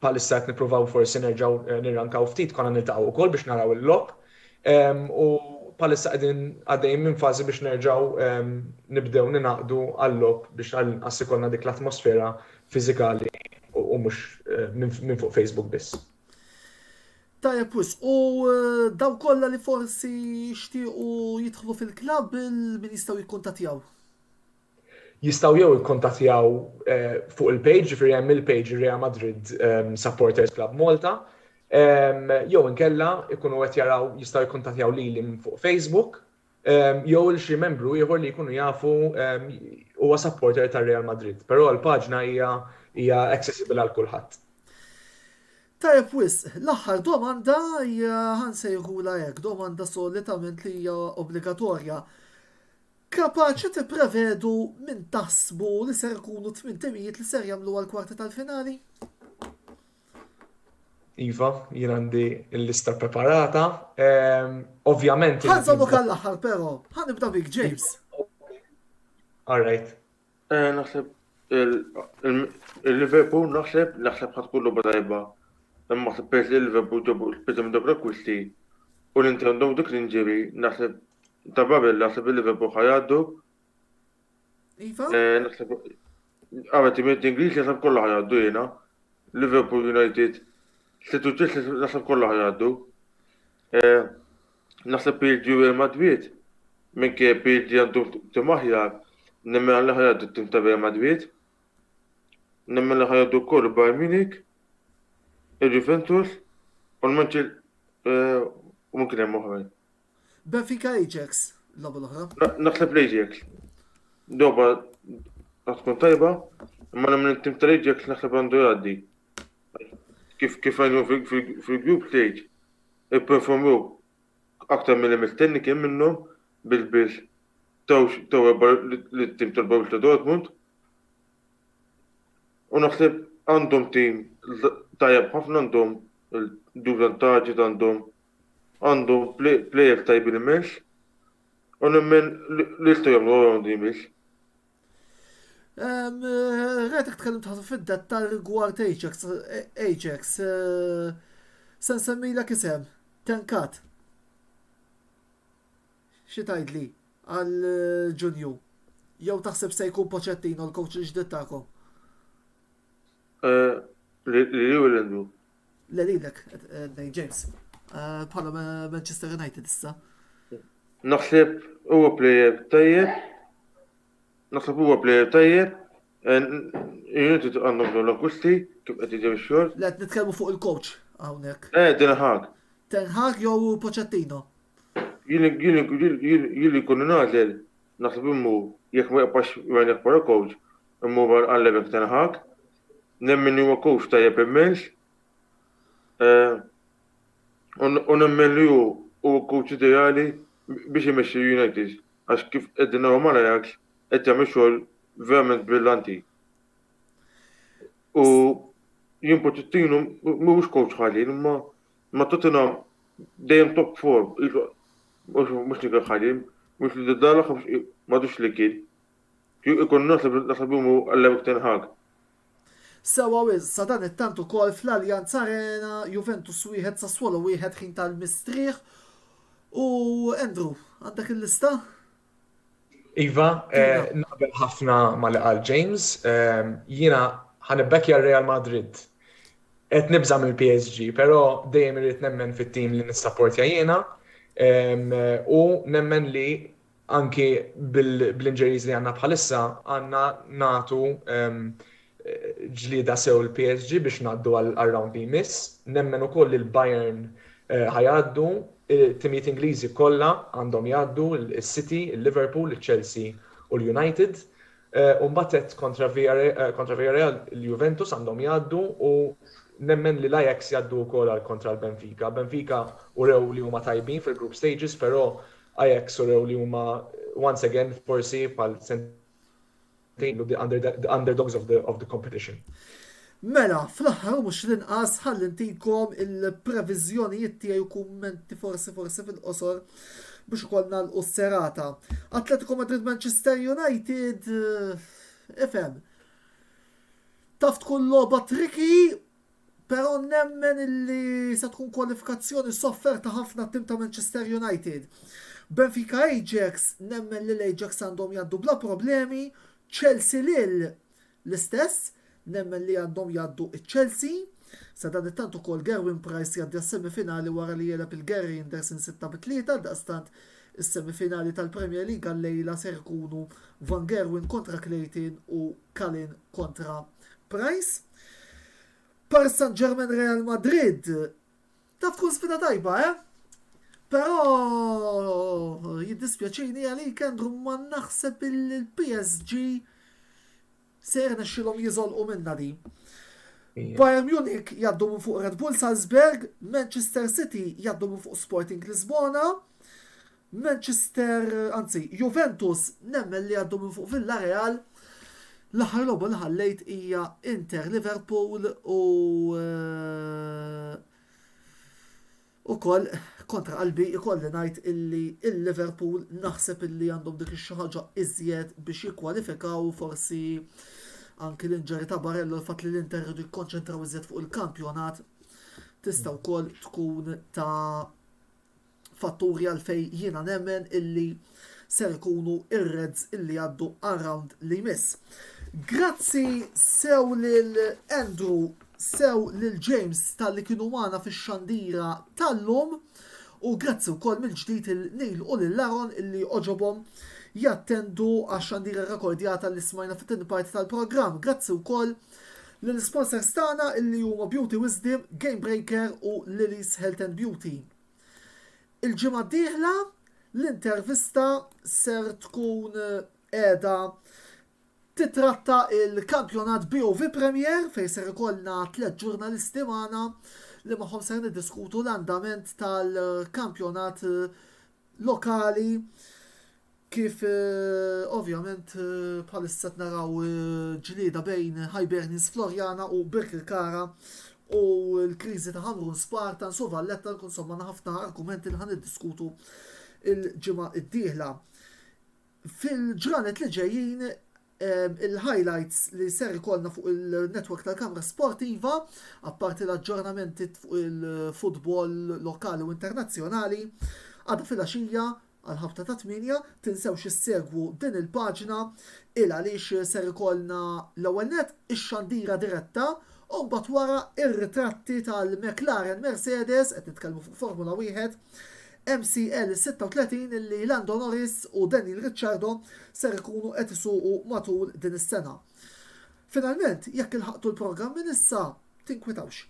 Bħalissa qed nippruvaw forsi nerġgħu nirrankaw ftit, konna niltaqgħu wkoll biex naraw il-logħob u bħalissa qegħdin għaddejjin minn fażi biex nerġgħu nibdew ningħaqdu għal-logħob biex għall-inqas ikollna dik l-atmosfera fiżikali u mhux minn fuq Facebook biss. Tajjeb wisq, u dawk kollha li forsi jixtiequ jidħlu fil-klabb, min jistgħu jikkuntattjaw? jistgħu jew ikkuntattjaw fuq il-page, ġifieri hemm il-page Real Madrid Supporters Club Malta, jew inkella jkunu qed jaraw jistgħu jikkuntattjaw lili minn fuq Facebook jew lil xi membru ieħor li jkunu jafu huwa supporter ta' Real Madrid. Però l-paġna hija hija accessible għal kulħadd. Tajjeb wisq, l-aħħar domanda hija ħa nsejħulha hekk, domanda solitament li hija obbligatorja. Kapaċi tipprevedu min taħsbu li ser ikunu t-tmien timijiet li ser jagħmlu għall-kwarti tal-finali? Iva, jien għandi l-lista ppreparata. Ovvjament. Ħa nżommok għall-aħħar però. Ħa nibda bik, James. All right. Eh, naħseb il-Liverpool naħseb naħseb ħadd kullu badajba. Imma naħseb peress li l-Liverpool ġabu l-piża minn dawk l-akkwisti u li inti għandhom dik l-inġiri naħseb ta' Babel naħseb il-Liverpool ħajaddu. Iva? Eh, naħseb għamet imiet Ingliż naħseb kollha ħajaddu jiena. Liverpool United, Situ Chelsea naħseb kollha ħajaddu. Eh, Naħseb PhD u Irma Dwiet. Minkejja PhD għandu tim aħjar, nemmen li ħajgħaddu t-tim ta' Irma Dwiet. Nemmen li ħajgħaddu wkoll il-Bayern Munich, il-Juventus u l-Manchester eh, u minn kien hemm oħrajn. Benfica Ajax, l-logħba l-oħra. Naħseb l-Ajax. Doba tkun tajba, imma nemmen it-tim tal-Ajax naħseb għandu jgħaddi. Kif kif għajnu fil-group stage, Ipperformew aktar milli mistenni kien minnhom bil-biss taw erba' lit-tim tal-Borussia Dortmund u naħseb għandhom tim tajjeb ħafna għandhom Dusan Tadic għandhom għandhom plejers tajbin immens u nemmen li jistgħu jagħmlu r-rawnd li jmiss. Retik tkellim tħassu fid-dettal rigward Ajax. Ajax. Eh, Sen semmilek isem. Tenkat. Xi tgħidli għal eh, Ġunju? Jew taħseb se jkun Poċettino l-coach il-ġdid tagħkom? Eh, li li u l-endu. Le lilek qed ngħid James. Bħala Manchester United issa. Naħseb huwa plejer tajjeb. Naħseb huwa plejer tajjeb. United għandhom bżonn l-akkusti kif qed jiġi x-xogħol. Le qed nitkellmu fuq il-coach hawnhekk. Eh, din ħag. Tenħag jew Pochettino? Jili kun nazel, naħseb immu, jek ma jaqpax jgħan jaqpara coach, immu għal-lebek tenħak, Nemmen li huwa kowċ tajjeb immens u nemmen li hu hu l-kowċ ideali biex imexxi l-United għax kif qegħdin naraw mal-Ajax qed jagħmel xogħol verament brillanti. U jien Pochettino mhuwiex kowċ ħażin imma ma' Tottenham dejjem top form. Mhux li kien ħażin, mhux li dalla m'għadux li kien. Kieku ikun naf li naħseb li hu għallemek ten Hag. Sewwa wisq, sadanittant ukoll fl-Allianz Arena, Juventus wieħed, Sassuolo wieħed ħin tal-mistrieħ. U Andrew, għandek il-lista? Iva, eh, naqbel ħafna ma li qal James, eh, jiena ħanibbekja Real Madrid. Qed nibżam il psg però dejjem irid nemmen fit-tim li nissaportja jiena eh, u nemmen li anki bl-injuries li għandna bħalissa għandna nagħtu ġlieda sew il-PSG biex ngħaddu għar-round li jmiss. Nemmen ukoll li l-Bayern ħa jgħaddu, it-timijiet Ingliżi kollha għandhom jgħaddu, is-City, il-Liverpool, iċ-Chelsea u l-United. U mbagħad għedt kontra Villarreal il-Juventus għandhom jgħaddu u nemmen li l-Ajax jgħaddu wkoll għal kontra l-Benfica. Benfica urew li huma tajbin fil-group stages però Ajax urew li huma once again forsi bħal sentejn the underdogs of the, of the competition. Mela, fl-aħħar mhux l-inqas ħalli ntikom il-previżjonijiet tiegħi u kummenti forsi forsi fil-qosor biex ukoll nagħlqu s-serata. Atletico Madrid Manchester United eh, ifhem. Taf tkun logħba triki Però nemmen li se tkun kwalifikazzjoni sofferta ħafna t-tim ta' Manchester United. Benfica Ajax, nemmen li l-Ajax għandhom jgħaddu bla problemi, Chelsea Lille l-istess, nemmen li għandhom jgħaddu ċ-Chelsea. Sadanittant ukoll Gerwyn Price jgħaddi għas-semifinali wara li jegħleb il-Guerriers in 6 bi 3 għaldaqstant is-semifinali tal-Premier League għal-lejla ser ikunu Van Gerwen kontra Clayton u Kalin kontra Price. Paris Saint-Germain Real Madrid. Taf tkun sfida tajba, eh? Però jiddispjaċini għalik Andrew ma naħseb il-PSG se jirnexxilhom jiżolqu minna di. Bayern Munich jaddu minn fuq Red Bull Salzburg, Manchester City jaddu minn fuq Sporting Lisbona, Manchester, anzi, Juventus nemmen li għaddu minn fuq Villareal. L-aħħar logħba li ħallejt hija Inter Liverpool u ukoll kontra qalbi ikolli ngħid illi il-Liverpool naħseb illi għandhom dik xi ħaġa iżjed biex jikkwalifikaw forsi anki l-inġeri ta' Barello l-fatt li l-Inter rridu jikkonċentraw iżjed fuq il-kampjonat tista' wkoll tkun ta' fatturi għalfejn jiena nemmen illi ser ikunu ir-Reds illi jgħaddu għar-round li jmiss. Grazzi sew lil Andrew, sew lil James tal-li kienu magħna fix-xandira tal-lum u grazzi wkoll mill-ġdid il-Nil u lil Laron illi oġobhom jattendu għax-xandira rekordjata li smajna fit-tieni parti tal-programm. Grazzi wkoll l-sponsors tagħna illi huma Beauty Wisdom, Game Breaker u Lily's Health and Beauty. Il-ġimgħa d-dieħla l-intervista ser tkun qiegħda titratta il-kampjonat BOV Premier fejn ser ikollna tliet ġurnalisti magħna li magħhom ser niddiskutu l-andament tal-kampjonat lokali Kif ovvjament bħalissa qed naraw ġlieda bejn Hibernians Floriana u Birkirkara u l-kriżi ta' Ħamrun Spartans u Valletta nkun insomma għandna ħafna argumenti li ħa niddiskutu l-ġimgħa d-dieħla. Fil-ġranet li ġejjin il-highlights li ser ikollna fuq il-network tal-Kamra Sportiva, apparti l-aġġornamenti fuq il-futbol lokali u internazzjonali, għadha fil-għaxija Għall-ħabta ta' tmienja, tinsewx issegwu din il-paġna il għaliex ser ikollna l-ewwel nett ix-xandira diretta u mbagħad wara r-ritratti tal-McLaren Mercedes, qed nitkellmu fuq Formula Wieħed, MCL 36 illi Lando Norris u Daniel Ricciardo ser ikunu qed isuqu matul din is-sena. Finalment, jekk ilħaqtu l-programm minn issa, tinkwitawx.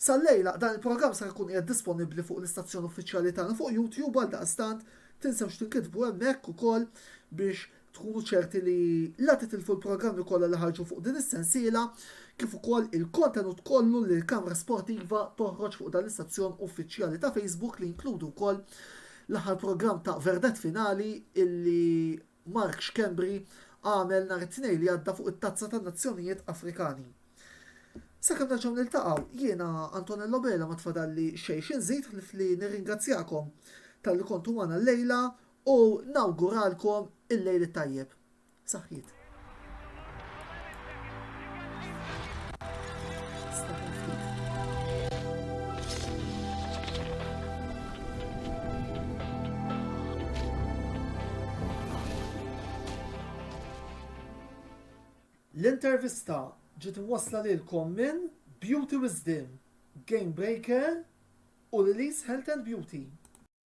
Sal-lejla, dan il-programm sar ikun qiegħed disponibbli fuq l-istazzjon uffiċjali tagħna fuq YouTube għaldaqstant tinsewx tinkitbu hemmhekk ukoll biex tkunu ċerti li la titilfu l-programmi kollha li ħarġu fuq din is-sensiela kif ukoll il-kontenut kollu li l-Kamra Sportiva toħroġ fuq dan l-istazzjon uffiċjali ta' Facebook li jinkludu wkoll l-aħħar programm ta' Verdett Finali illi Mark Schembri għamel nhar it-Tnejn li għadda fuq it-Tazza tan-Nazzjonijiet Afrikani. Sakemm nerġgħu niltaqgħu, jiena Antonello Bela ma tfadalli xejn xi nżid ħlief li nirringrazzjakom talli kontu magħna llejla u nawguralkom il-Lejl it-Tajjeb. Saħħiet. L-intervista ġiet imwassla lilkom minn Beauty Wisdom, Game Breaker u Lily's Health and Beauty.